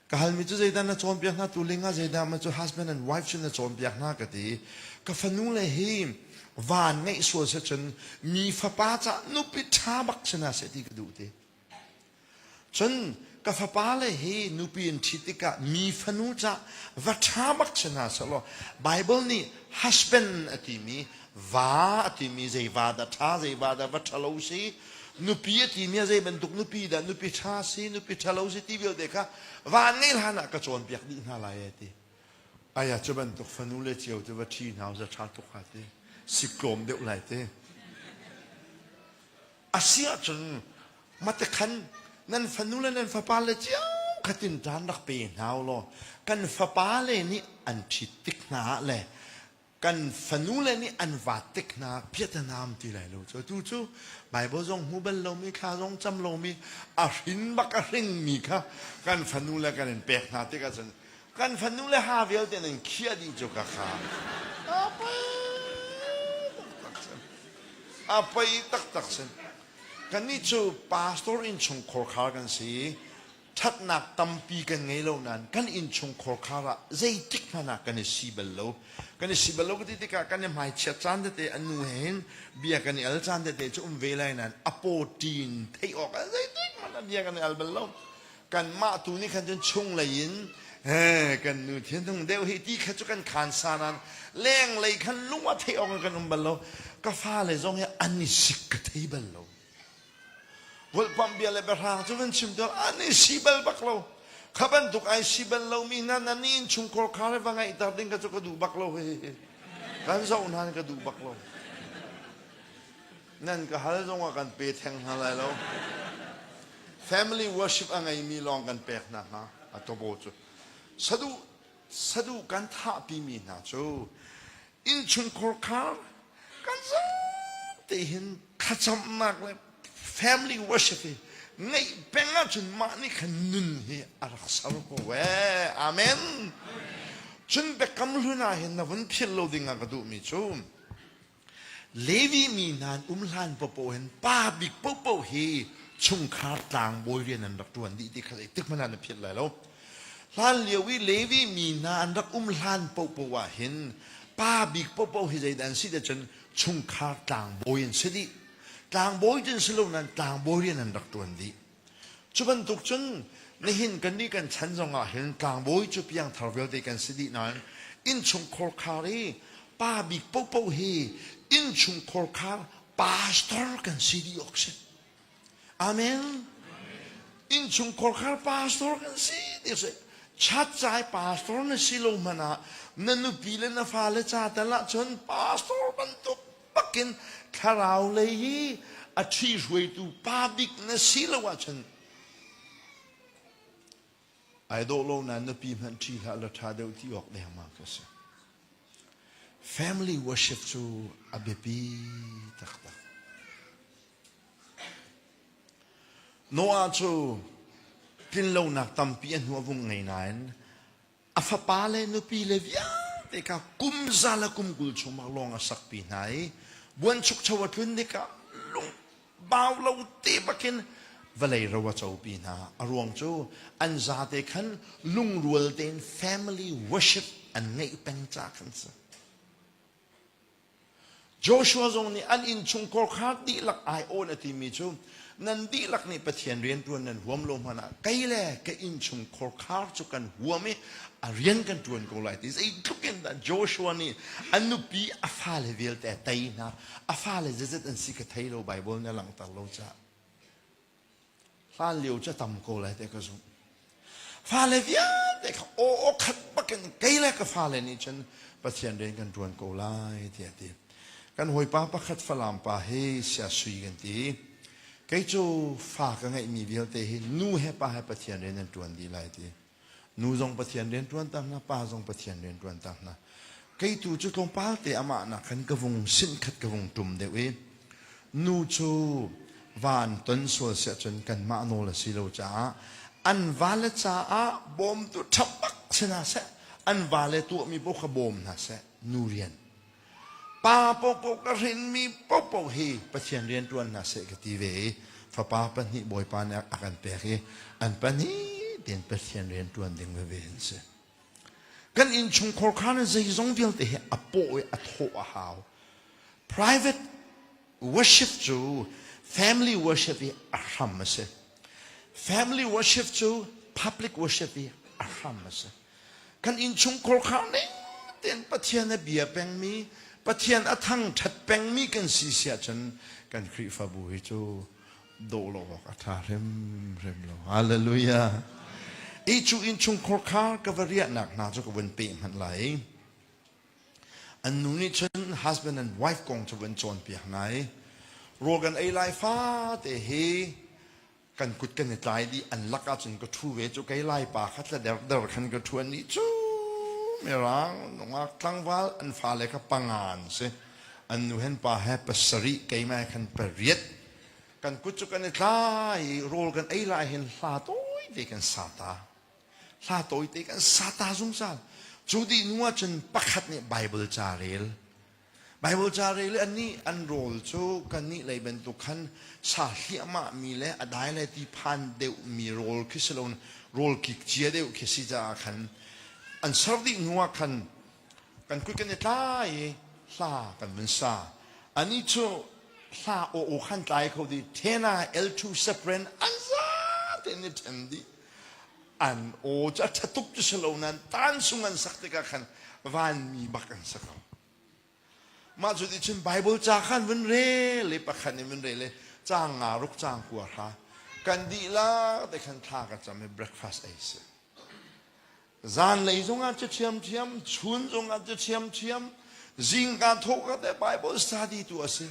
Ka halmi cu zeidah na cawnpiak hna tu lingah zeidah ma cu husband and wife sin na cawnpiak hna ka ti ka fanu le hi van ngeih sual se cun mi fapa ca nupi ṭha bak sinah seh ti ka duh ti cun ka fapa le hi nupi in ṭhi tikah mi fanu ca va ṭha bak sinah seh law Bible nih husband a timi va a timi zei va dah ṭha zei va dah va ṭhalo si nupi a timi a zei bantuk nupi dah nupi ṭha si nupi ṭhalo si ti vialte kha van ngei hlan ah ka cawnpiak dih hna lai a ti aya cu bantuk fanu le cio te va ṭhi hna za ṭha tuk ha ti siklawm deuh lai te a si ahcun mate khan nan fanu le nan fapa le cio khatin ṭan rak pe hna u law kan fapa le nih an ṭhit tik hna ah le kan fanule nih an vaat tik hna piatanam ti lai lo cu tu cu Bible zong hmu bal lomi thla zong cam lomi a hrin bak a hringmi kha kan fanule kan in pek hna tik ahcun kan fanule ha vialte nan khiah dih cu ka kha a pei taktak sin a pei taktak sin kannih cu pastor in chungkhor khar kan si ṭhatnak tampi kan ngei lo nain kan innchungkhar khar ah zeitik hmanh ah kan i si bal lo. Kan i si bal lo ka ti tikah kan i hmaichiat caan tete, a nu he hin bia kan i al caan tete cu um ve lai nain a pawṭi in theih awk ah zeitik hmanh ah bia kan i al bal lo. Kanmah tu nih khan cun chunglei in eh, kan nu thinhung deuh hi ti kha cu kan khaan sa nain lenglei khan lung a theih awk in kan um bal lo. Ka fale zong hi an i sik ka thei bal lo. Vulhpamh bia le biahrang cu van chim tuar an in si bal bak lo kha bantuk ai si bal lo mi hna nan in chungkor kha le va ngaih ter ding ka cu ka duh bak lo he kan zoh hna ka duh bak lo nan ka hal zong ah kan pe theng hna lai lo family worship a ngei mi lawng kan pek hna hnga a tobo cu saduh saduhkan thahpimi hna cu innchunkhur khar kan zaante hin thlacamnak le family worship hi ngeih peng ahcun mah nih khan nun hi a rak ser ko ve amen cun biakam hlun ah hin na vun philh lo ding ah ka duhmi cu Levi mi hna an um hlan paohpaoh hin pa bik paohpaoh hi chungkhar tlangbawi rian an rak ṭuan dih ti kha zeitik hmanh ah na philh lai lo. Hlan lio i Levi mi hna an rak um hlan paohpaoh ah hin pa bik paohpaoh hi zeidah an si ti cun chungkhar tlangbawi an si dih. Tlangbawi cu si lo nain tlangbawi rian an rak ṭuan dih. Cu bantuk cun nihin kannih kan chan zongah hin tlangbawi cu piangthar vialte kan si dih nain innchungkhar khar i pa bik pohpoh hi innchungkhar khar pastor kan si dih awk si. Amen. Innchungkhar khar pastor kan si ti si. Chatcai pastor na si lo hmanh ah na nupi le na fale ca tal ah cun pastor bantuk Pakin thlarau lei hi a ṭhihruaitu pa bik na si lo ahcun ai dawh lo nain nupi hmanh ṭhi hlah law ṭha deuh ti awk dengmang ka si. Family worship cu a biapi taktak. Noah cu tlinlonak tampi a hnu a vung ngei nain a fapa le nupi le vialte kha kum za le kum kul chungah lawng a sakpi hna i buanchukcho a tlun nik ah lung bau lo te bakin vawlei ro a copi hna a ruang cu an zate khan lungrual tein family worship an ngeih peng ca khan si Joshua zong nih an innchung kawrkhar dihlak aiawh a timi cu nan dihlak nih Pathian rianṭuan nan huam lo hmanh ah kei le ka innchung kawrkhar cu kan huam i a rian kan ṭuan ko lai ti zeitluk in dah Joshua nih a nupi a fale vialte a tei hna a fale zeizat an si ka thei lo Baibal na langhter lo caah Hlanlio cu a tam ko lai te ka zumh. Fale vialte kha aw aw khat bakin kei le ka fale nih cun Pathian rian kan ṭuan ko lai tiah a ti. Kan hawipa pakhat Falam pa hi sia sui kan ti. Kei cu fa ka ngeihmi vialte hi nu he pa he Pathian rian an ṭuan dih lai ti. Nu zong Pathian rianṭuan ta hna, pa zong Pathian rianṭuan ta hna. Kei tu cu tlawmpal te amah nakin ka vung sinh khat ka vung ṭum deuh i nu cu van ton sual si ahcun kanmah nawl a si lo caah an vale caah bawm tu ṭhapbak si hna seh, an vale tuahmi paoh kha bawm hna seh, nu rian. Pa paohpaoh ka hrinmi paohpaoh hi Pathian rianṭuan hna seh ka ti ve i fapa pahnih bawipa nih a kan pek i an pahnih tein Pathian rianṭuan ding veve an si. Kan innchungkhar kha zeizong vialte hi a paw i a thawh a hau. Private worship cu family worship i a hram a si family worship cu public worship i a hram a si kan innchungkhar kha ning tein pathian a bia pengmi pathian a thangṭhat pengmi kan si si ahcun kan khrihfabu hi cu doh lo awk a ṭha hrimhrim lo hallelujah i cu innchungkhar kha ka va riahnak hna cu ka vun peh hmanh lai An nu nih cun husband and wife kong cu van cawnpiak hna i rawl kan ei lai fate hi kan kut kan i tlai dih an lak ahcun ka ṭhu ve cu kei lai pa kha tla derder khan ka ṭhu an nih cu mirang nungak tlangval an fale kha panga an si an nu hen pa he pasarih keimah khan pariat kan kut cu kan i tlai i rawl kan ei lai hin hla tawi te kan sa ta hla tawite kan sata zungzal cu dih nu ahcun pakhat nih Bible ca rel Bible ca rel an nih an rawl cu kan nih lei bantuk khan sa hliahmah mi le a dai le ti phan deuh mi rawl khi si lo rawl kik cia deuh khi si caah khan an ser dih hnu ah khan kan kuit kan i tla i hla kan vun sa ani cu hla aw aw khan tlai kho dih thena L2 sepren an za te ni then dih an aw cu a ṭha tuk cu si lo nain tansung an sak tikah khan vanmi bak an sak lo mah cu ticun Bible ca khan vun rel i pakhat in vun rel i cang nga ruk cang kua hra kan dihlak te khan thla ka cam i breakfast ei si zan lei zongah cu thiamthiam chun zongah cu thiamthiam zingka thawka te Bible study tu a si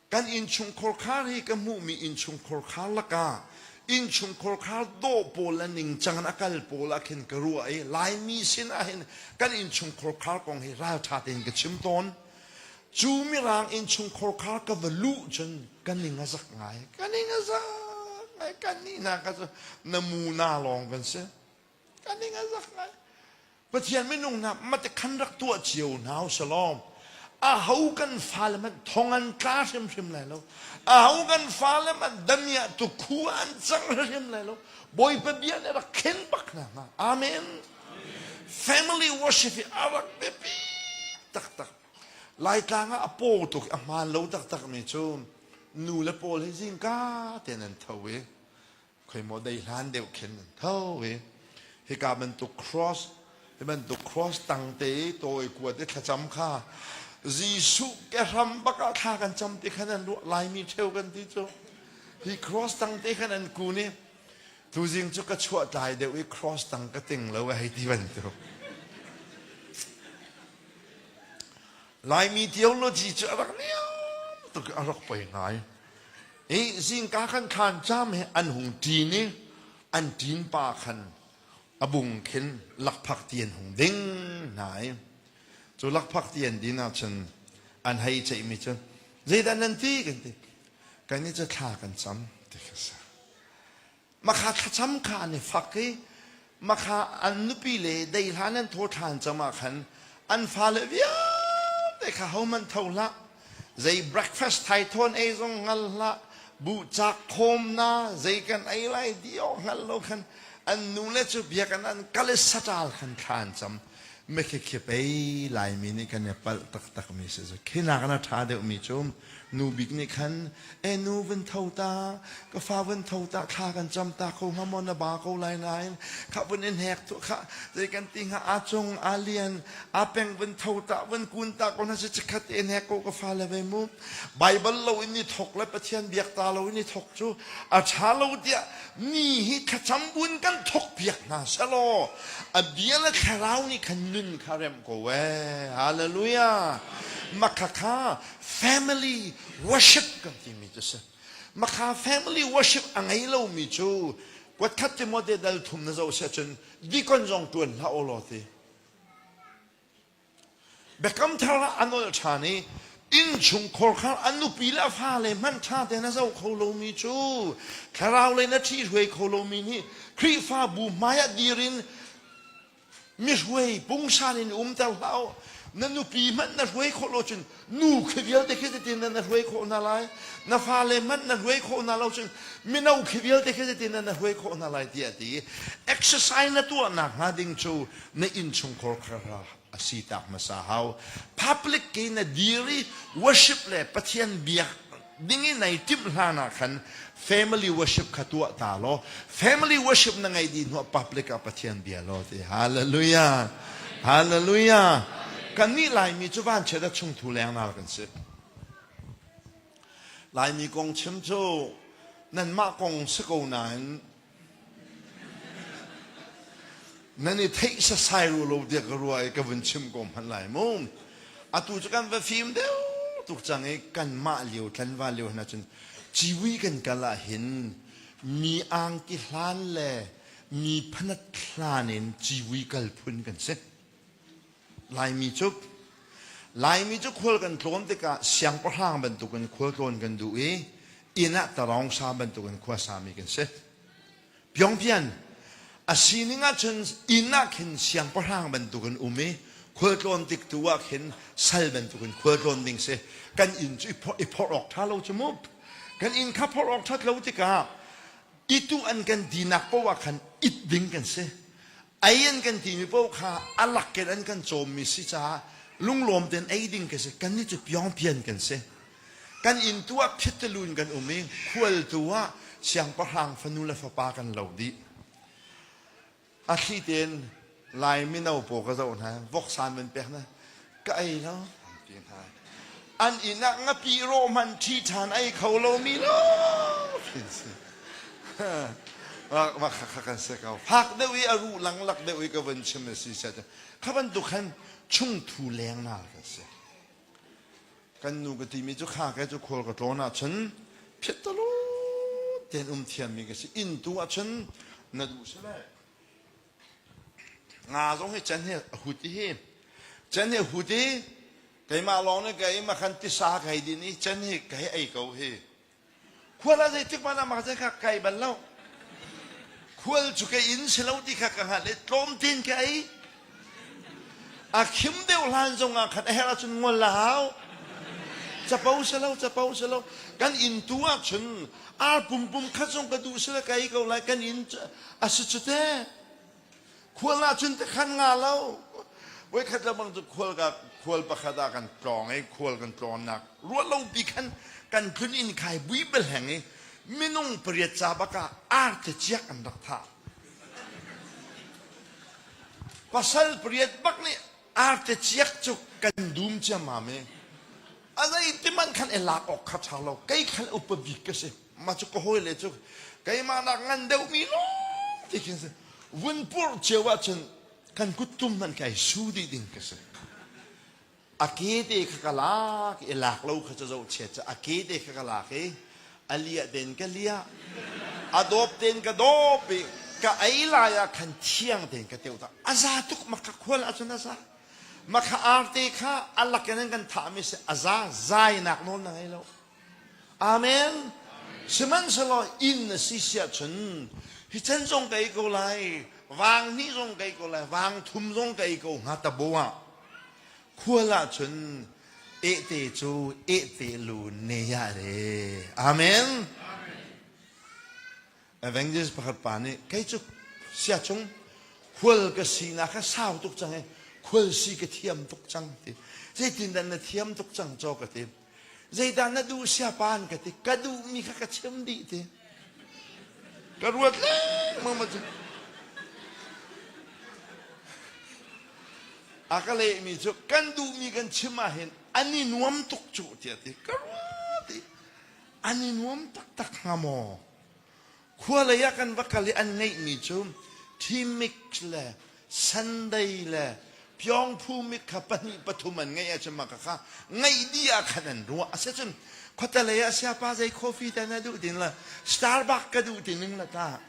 Kan innchungkhar khar hi ka hmuhmi innchungkhar khar lakah innchungkhar khar dawh pawl le ningcang in a kal pawl ah khin ka ruah i Laimi sin ah hin kan innchungkhar khar kong hi ralṭha tein ka chim tawn. Cu mirang innchungkhar khar ka va luh cun ka ning a zak ngai. Ka ning a zak ngai. Ka ni na ka na mu na lawng kan si. ka ning a zak ngai pathian minung hna mate khan rak tuah cio hna u salawm aho kan fale hmanh thong an tla hrimhrim lai lo aho kan fale hmanh damiah tu khu an cang hrimhrim lai lo bawipa bia nih rak khen bak hna hnga amen family worship hi a rak biapi taktak laitlang ah a paw tuk a hmaan lo taktak mi cu nu le pawl hi zingka te nan tho i khoi maw dei hlan deuh khin an tho i hika bantuk cross hi bantuk cross tang te i tawi kuat i thlacam kha Jesuh ke hram bak ah thla kan cam ti khan an ruah laimi theu kan ti cu hi cross tang te khan an kun i tuzing cu ka chuah tlai deuh i cross tang ka ting lo a hei ti bantuk Laimi theology cu a rak liam tuk a rak poi ngai. I zingka kan thlan cam he an hung ṭin i an ṭin pa khan a bung khin lakphak ti an hung ding hna i cu lakphak ti an din ah cun an hei ceihmi cu zeidah nan ti kan ti kan i cu thla kan cam ti kha a si makha thlacam kha an i fak i makha an nupi le dei hlan an thaw ṭhan cang ah khan an fale vialte kha hohmanh tho hlah zei breakfast thai thawn ei zong hngal hlah buhcak khawm na zei kan ei lai di awk hngal lo khan an nu le cu biakinn an kal i saṭal khan thlan cam mekhekhe pei laimi nih kan i palh taktakmi si cu khinak na ṭha deuhmi cu nu bik nih khan e nu vun tho ta ka fa vun tho ta thla kan cam ta kho hnga maw na ba ko lai nain kha vun i hnek tu kha zei kan ti hnga a cung a lian a peng vun tho ta vun kun ta ko na si chikhat i hnek ko ka fa le ve mu bible lo in i thok le pathian biak ta lo in i thok cu a ṭha lo tiah mi hi thlacam buin kan thokpiak hna selaw a bia le thlarau nih khan nun kha remh ko ee hallelujah makha kha family worship kan timi cu si makha family worship a ngei lomi cu kuatkhat Timote dal thum na zoh seh cun dikon zong tuan hlah u law ti Biakam thar ah an ol ṭhan i innchungkhar kha a nupi le a fale hmanh ṭha tein a zoh kho lomi cu thlaraulei na ṭhihruai kho lomi nih Khrihfabu hmaiah dir in mihruai pungsan in umter hlah u na nupi hmanh na hruai khawh lo cun nu khi vialte khi zetin na hruai khawh hna lai na fale hmanh na hruai khawh hna lo cun mino khi vialte khi zetin na hruai khawh hna lai tiah ti exercise na tuah nak hnga ding cu na innchungkhar kharha a si tak hmasa hau public ke na dir i worship le pathian biak ding i nai timh hlan ah khan family worship kha tuah ta law family worship na ngeih dih hnuah public ah Pathian bia law ti hallelujah hallelujah kannih Laimi cu vanchiat a chung thu leng nar kan si Laimi kong chim cu nanmah kong si ko nain nan i theih sasai ru lo tiah ka ruah i ka vun chim ko hmanh lai mu atu cu kan va fim deuh tuk cang i kanmah lio tlanva lio hna cun ciwi kan kal ah hin mi angki hlan le mi phanat hlan in ciwi kal phun kan si Laimi cu Laimi cu khual kan tlawn tikah siangpahrang bantukin khual tlawn kan duh i inn ah taraung sa bantukin khua sami kan si. Pyongpyan a sining ahcun inn ah khin siangpahrang bantukin um i khual tlawn tik tu ah khin sal bantukin khual tlawn ding si. Kan inn cu i phorh awk ṭha lo cu mu. Kan inn kha phorh awk ṭhat lo tikah itu an kan dinak poah khan it ding kan si. Ei an kan timi paoh kha a lak in an kan cawmmi si caah lunglawm tein ei ding ka si. Kan nih cu piangpian kan si. Kan inn tu ah phittelu in kan um i khual tu ah siangpahrang fanu le fapa kan lo dih. A thli tein Lai mino paw ka zoh hna. Voksan man pek hna. ka ei lo an ti hna an inn ah ngapi rawh hmanh ṭhi ṭhan ei kho lomi no kan si mah kha kha kan si ko fak deuh i a ru langlak deuh i ka van chim a si set kha bantuk khan chungthu lengnar ka si kan nu ka timi cu kha ke cu khual ka tlawn ah chun phittalo ten um thiammi ka si inn tu ah chun na duh si lai Nga zong hi can hi a hut i hi can hi a hut i keimah lawng nih kei makhan tisa ka hei din i can hi ka hei ei ko hi. Khual ah zeitik hmanh ah makhazel kha kai bal lo. Khual cu ke inn si lo ti kha ka hngalh i tlawm tein ka ei. A khim deuh hlan zong ah khan a herh ahcun ngol a hau. Capo si lo, capo si lo. Kan inn tu ah cun ar pum pum khat zong ka duh si le ka ei ko lai kan in a si cu te khual ah cun te khan nga lo voi khat bang cu khual ka khual pakhat ah kan tlawng i khual kan tlawnnak ruah lo pi khan kan tlun in khai bui bel heng i minung pariat ca baka ar te ciak an rak tha pasal pariat bak nih arte ciak cu kan dum ciam ma me a zeiti man khan i lak awk kha ṭha lo kei khan upa bik ka si mah cu ka hawile cu keimah nak ngan deuhmi lawng ti khin si vun purh cio ahcun kan kuttum nan kai su dih ding ka si a kete kha ka lak i lak lo kha cu zo chiat cu a kete kha ka lak i a liah den ka liah a dawp ten ka dawp i ka ei lai ah khan thiang ten ka teu ta a za tuk ma ka khual ahcun a za Maka arte kha a lakin in kan thahmi si a za zainak nawl na ngei lo. Amen. Sihmanhsehlaw inn na si siah cun hi chan zong ka ei ko lai, vang hnih zong ka ei ko lai, vang thum zong ka ei ko hnga tabo ah khual ah cun ehte cu ehte lu ne ya re. Amen. Evangelist pakhat pa nih kei cu sia chung khual ka si na kha sau tuk cang i khual si ka thiam tuk cang ti zeitindah na thiam tuk cang caw ka ti zeidah na duh sia pan ka ti ka duhmi kha ka chim dih ti ka ruat lengmang ma cu a ka lehmi cu kan duhmi kan chim ahhin an i nuam tuk cu tiah ti ka ruat i an i nuam taktak hnga maw Khua lei ah kan va kal i an ngeihmi cu ṭhimix le Sunday le piongphu mit kha pahnih pathum an ngeih ahcun mah kha ngeih dih ah khan an ruah a si cun khuatalei ah siapa zei coffee dah na duh tin la Starbucks ka duh ti ning la tah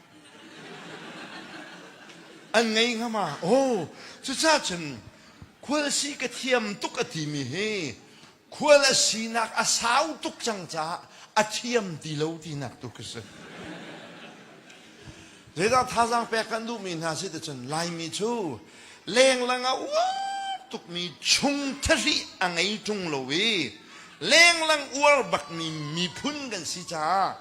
an ngei ngam ah aw cucah cun khual si ka thiam tuk a timi hi Khual a sinak a sau tuk cang caah a thiam ti lo tinak tu khi si. Zeidah thazaang pek kan duhmi hna si ticun Laimi cu lenglang a uar tukmi chung thahri a ngei ṭung lo i lenglang uar bakmi miphun kan si caah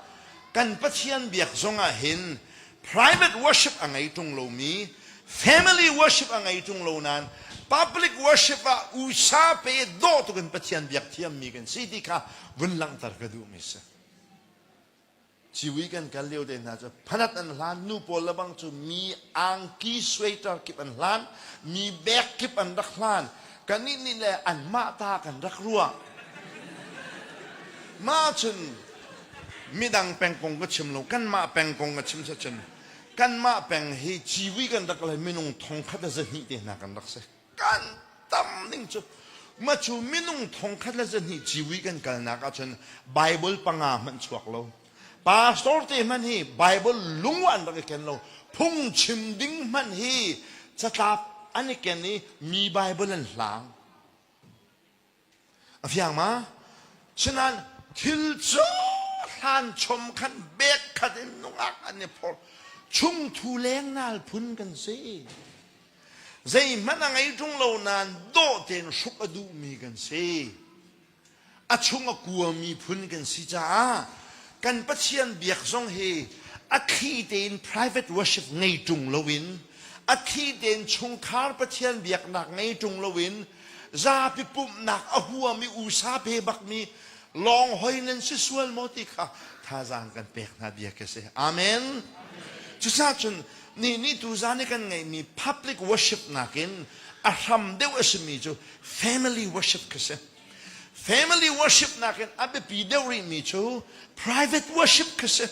kan Pathian biak zongah hin private worship a ngei ṭung lomi family worship a ngei ṭung lo nain public worship ah usa pe dawh tuk in Pathian biak thiammi kan si ti kha vun langhter ka duhmi si ciwi kan kal lio te hna cu phanat an hlan nu pawl lebang cu mi angki suaiter kip an hlan mi bek kip an rak hlan Kannih nih le anmah ta kan rak ruah. Mah ahcun midang peng kong ka chim lo, kanmah peng kong ka chim sacun kanmah peng hi civi kan rak le minung thongkhat le zahnih te hna kan rak si. Kan tam ning cu mah cu minung thongkhat le zahnih civi kan kalnak ahcun Baibal panga hmanh chuak lo. Pastor te hmanh hi Bible lung an rak i ken lo. Phungchim ding hmanh hi catlap an i ken i mi Bible an hlang. A fiang ma? Sinan thil cu hlan chom khan bek khat in nungak an i phor. Chung thu leng nal phun kan si. Zeihmanh a ngei ṭung lo nain dawh tein hruk a duhmi kan si. a chung a kuami phun kan si caah kan Pathian biak zong hi a thli tein private worship ngei ṭung loin a thli tein chungkhar Pathian biaknak ngei ṭung loin zapi pumhnak a huami usa pe bakmi lawng hoi nan si sual maw ti kha thazaang kan pek hna bia khi si amen cucaah cun nih nih tuzan i kan ngeihmi public worship nakin a hram deuh a simi cu family worship ka si family worship nakin a biapi deuh rihmi cu private worship ka si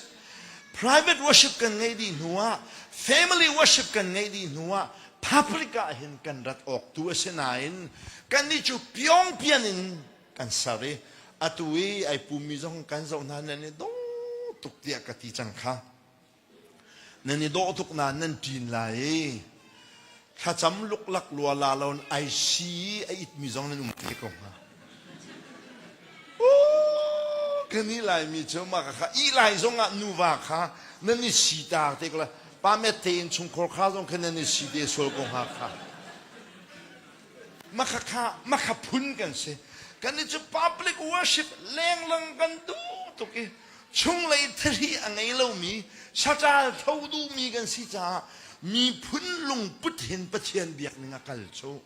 private worship kan ngeih dih hnu ah family worship kan ngeih dih hnu ah public ah hin kan rat awk tu a si nain kannih cu piong pian in kan ser i atu i ai pummi zong kan zoh hna nan i dong tuk tiah ka ti cang kha Nan i dawh tuk nain nan ṭin lai i thlacam luklak lua la loin ai si a itmi zong nan um te ko hnga. kan ih laimi cu maka kha ih lai zong ah nuva kha nan i si ta te ko la pa met tein chungkhar kha zong kha nan i si te sual ko hnga kha Makhakha, Makha phun kan si. Kannih cu public worship lenglang kan duh tuk i chunglei thahri a ngei lomi, saṭal tho duhmi kan si caah miphun lungput hin Pathian biakning a kal cu.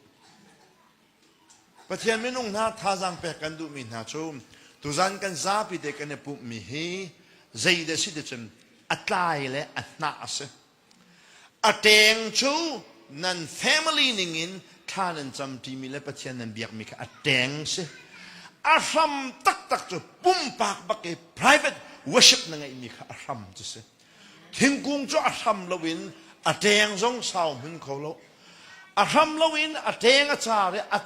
Pathian minung hna thazaang pek kan duhmi hna cu tuzan kan zapi te kan i pumhmi hi zeidah si ti cun a tlai le a hnah a si. A ṭeng cu nan family ningin thla nan cam ṭimi le Pathian nan biakmi kha a ṭeng si. A hram taktak cu pumpak bak i private worship na ngeihmi kha a hram cu si. Thingkung cu a hram loin a ṭeng zong sau hmun kho lo. A hram loin a ṭeng a car i a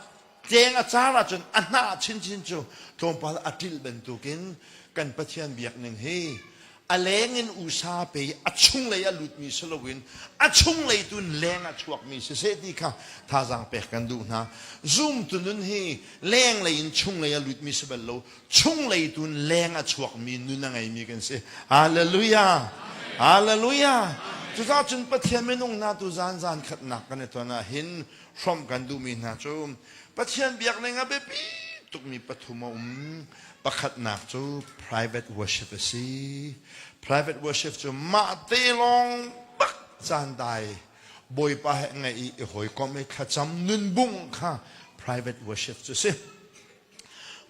Ceng a car ahcun a hnah chinchin cu tlawmpal a ṭilh bantukin kan Pathian biakning hi a leng in usa pe i a chunglei a lutmi si loin a chunglei tu in leng a chuakmi siseh ti kha thazaang pek kan duh hna. Zumtu nun hi lenglei in chunglei a lutmi si bal lo, chunglei tu in leng a chuakmi nun a ngeimi kan si. Hallelujah! Hallelujah! Cucaah cun Pathian minung hna tu zan zan khatnak kan i ton ahhin hrawmh kan duhmi hna cu Pathian biakning ah biapi tukmi pathum a um. Pakhatnak cu private worship a si. Private worship cu mah te lawng bak caan dai Bawipa he ngaih i i hawikom i thlacam nunbung kha private worship cu si.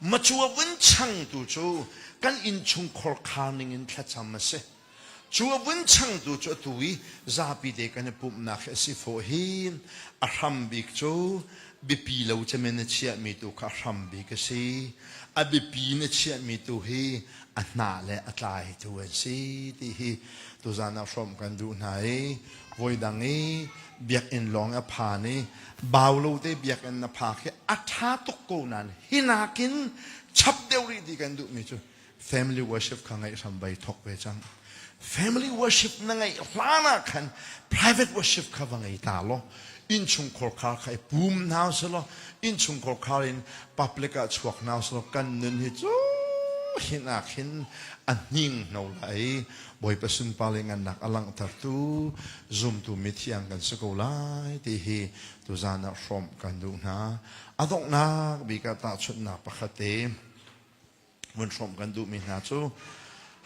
Macua vun changtu cu kan innchungkhar khar ning in thlacam a si. Cu a vun changtu cu atu i zapite kan i pumhnak hi a si fawh hi a hram bik cu biapi lo cem in a chiahmi tu kha a hram bik a si. A biapi in a chiahmi tu hi a hna le a tlai tu an si ti hi tuzan ah hrawm kan duh hna i voidang i biakinn lawng i a phan i bau lo te biakinn na phak hi a ṭha tuk ko nain hi nakin chap deuh rih ti kan duhmi cu family worship kha ngaih hram vai thawk ve cang family worship na ngaih hlan ah khan private worship kha va ngei ta law innchungkhar khar kha i pum hna selaw innchungkhar khar in public ah chuak hna selaw kan nun hi cu hin ah khin a hning no lai bawipa sunpa le ngannak a langhtertu zumtu mithiang kan si ko lai ti hi tu zan ah hrawm kan duh hna a donghnak bika tahchunhnak pakhat te vun hrawm kan duhmi hna cu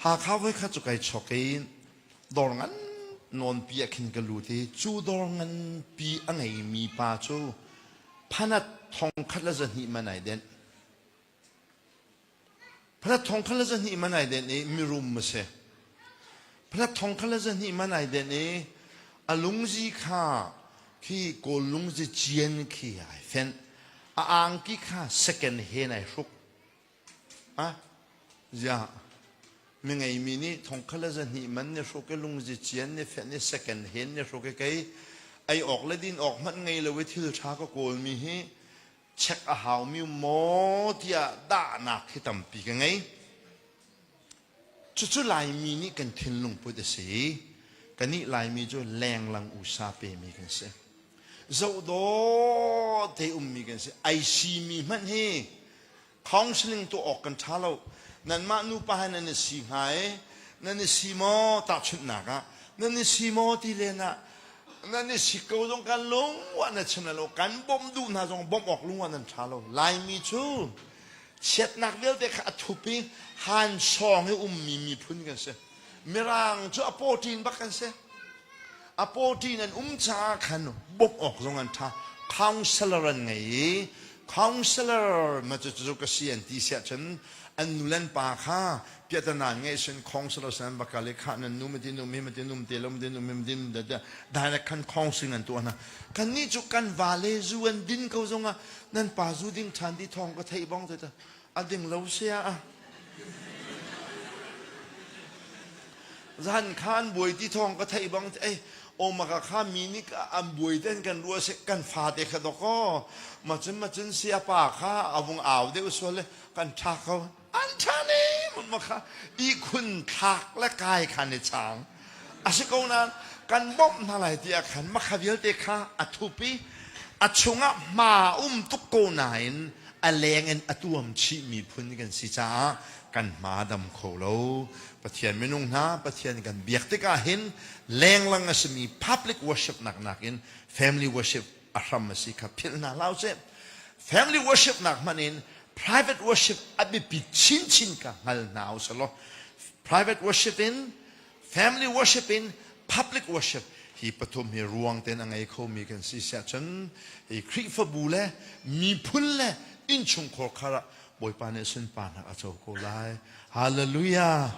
Hakha voi khat cu kai chawk i dawr ngan nawnpi ah khin ka lut i cu dawr nganpi a ngeimi pa cu phanat thong khat le zahnih man ai den phanat thong khat le zahnih man ai den i mirum a si phanat thong khat le zahnih man ai den i a lungzi kha khi kawl lungzi cian khi ai fenh a angki kha second hen ai hruk Ziah mi ngeimi nih thongkhat le zahnih man ne hruk i lungzi cian ne fenh i second hen ne hruk i kei ei awk le din awk hmanh ngei lo i thil ṭha ka kawlmi hi check a haumi maw tiah dahnak hi tampi ka ngei. Cucu Laimi nih kan thinlungput a si i kanih Laimi cu lenglang usa pemi kan si. Zohdawh te ummi kan si. Ai simi hmanh hi counseling tuah awk kan ṭha lo. Nanmah nupa he nan i si hnga i nan i si maw tahchunhnak ah nan i si maw ti len ah nan i si ko zong kan lung ah na chim lo kan bawmh duh hna zong bawmh awk lung ah nan ṭha lo. Laimi cu chiatnak vialte kha a thup i han sawng i ummi miphun kan si mirang cu a pawṭin bak kan si a pawṭin an um caah khan bawmh awk zong an ṭha counselor an ngei i counselor ma cu cu ka si an ti siah cun an nulen pa kha piatanan nge sin khong silo san bakale kha nan nu matin num hi matin num te lo matin num hi matin da da direct kan khong sing an tu ana kan ni chu kan vale zu an din ko zonga nan pa zu ding than di thong ka thei bong te ta ading lo sia a zan khan buai ti thong ka thei bong te o maka kha mi ni an buai ten kan ruwa se kan fa te kha doko ma chun ma chun sia pa kha avung aw de usole kan tha ko an ṭhanem ma kha ihkhun thlak le kai khan i chang a si ko nain kan bawmh hna lai ti ah khan makha vialte kha a thup i a chungah hma um tuk ko nain a leng in a tuam chihmi phun kan si caah kan hma dam kho lo pathian minung hna pathian kan biak tikah hin lenglang a simi public worship nak nakin family worship a hram a si kha philh hna hlah usih family worship nak hmanh in private worship a biapi chinchin ka hngal hna usih law private worship in family worship in public worship hi pathum hi ruang ten a ngei khomi kan si siah cun hi Khrihfabu le miphun le innchungkhar khar ah Bawipa nih sunparnak a co ko lai hallelujah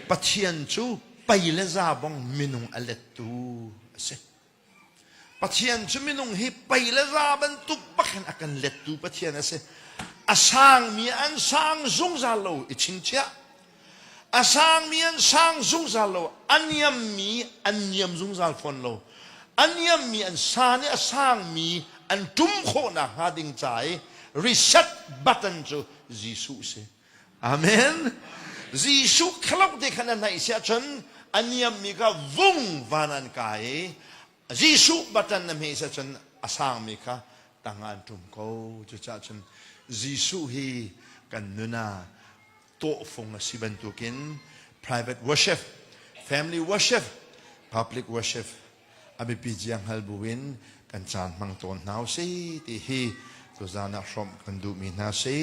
Pathian cu pei le za bong minung a lettu a si Pathian cu minung hi pei le za bantuk bakin a kan lettu Pathian a si. A sangmi an sang zungzal lo i chinchiah. A sangmi an sang zungzal lo. A niammi an niam zungzal fawn lo. A niammi an sa nih a sangmi an ṭum khawh nakhnga ding ca i reset button cu Jesuh si. Amen. Jesuh khelok te khan an naih si ahcun a niammi kha vung van an kai. Jesuh batan na hme si ahcun a sangmi kha tang ah an ṭum ko. Cucaah cun Jesuh hi kan nuna tawhfung a si bantukin private worship, family worship, public worship a biapi zia hngal buin kan caan hmang tawn hna usih ti hi tuzaan ah hrawmh kan duhmi hna si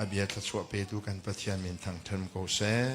a bia thluachuah petu kan Pathian min thangṭhem ko seh.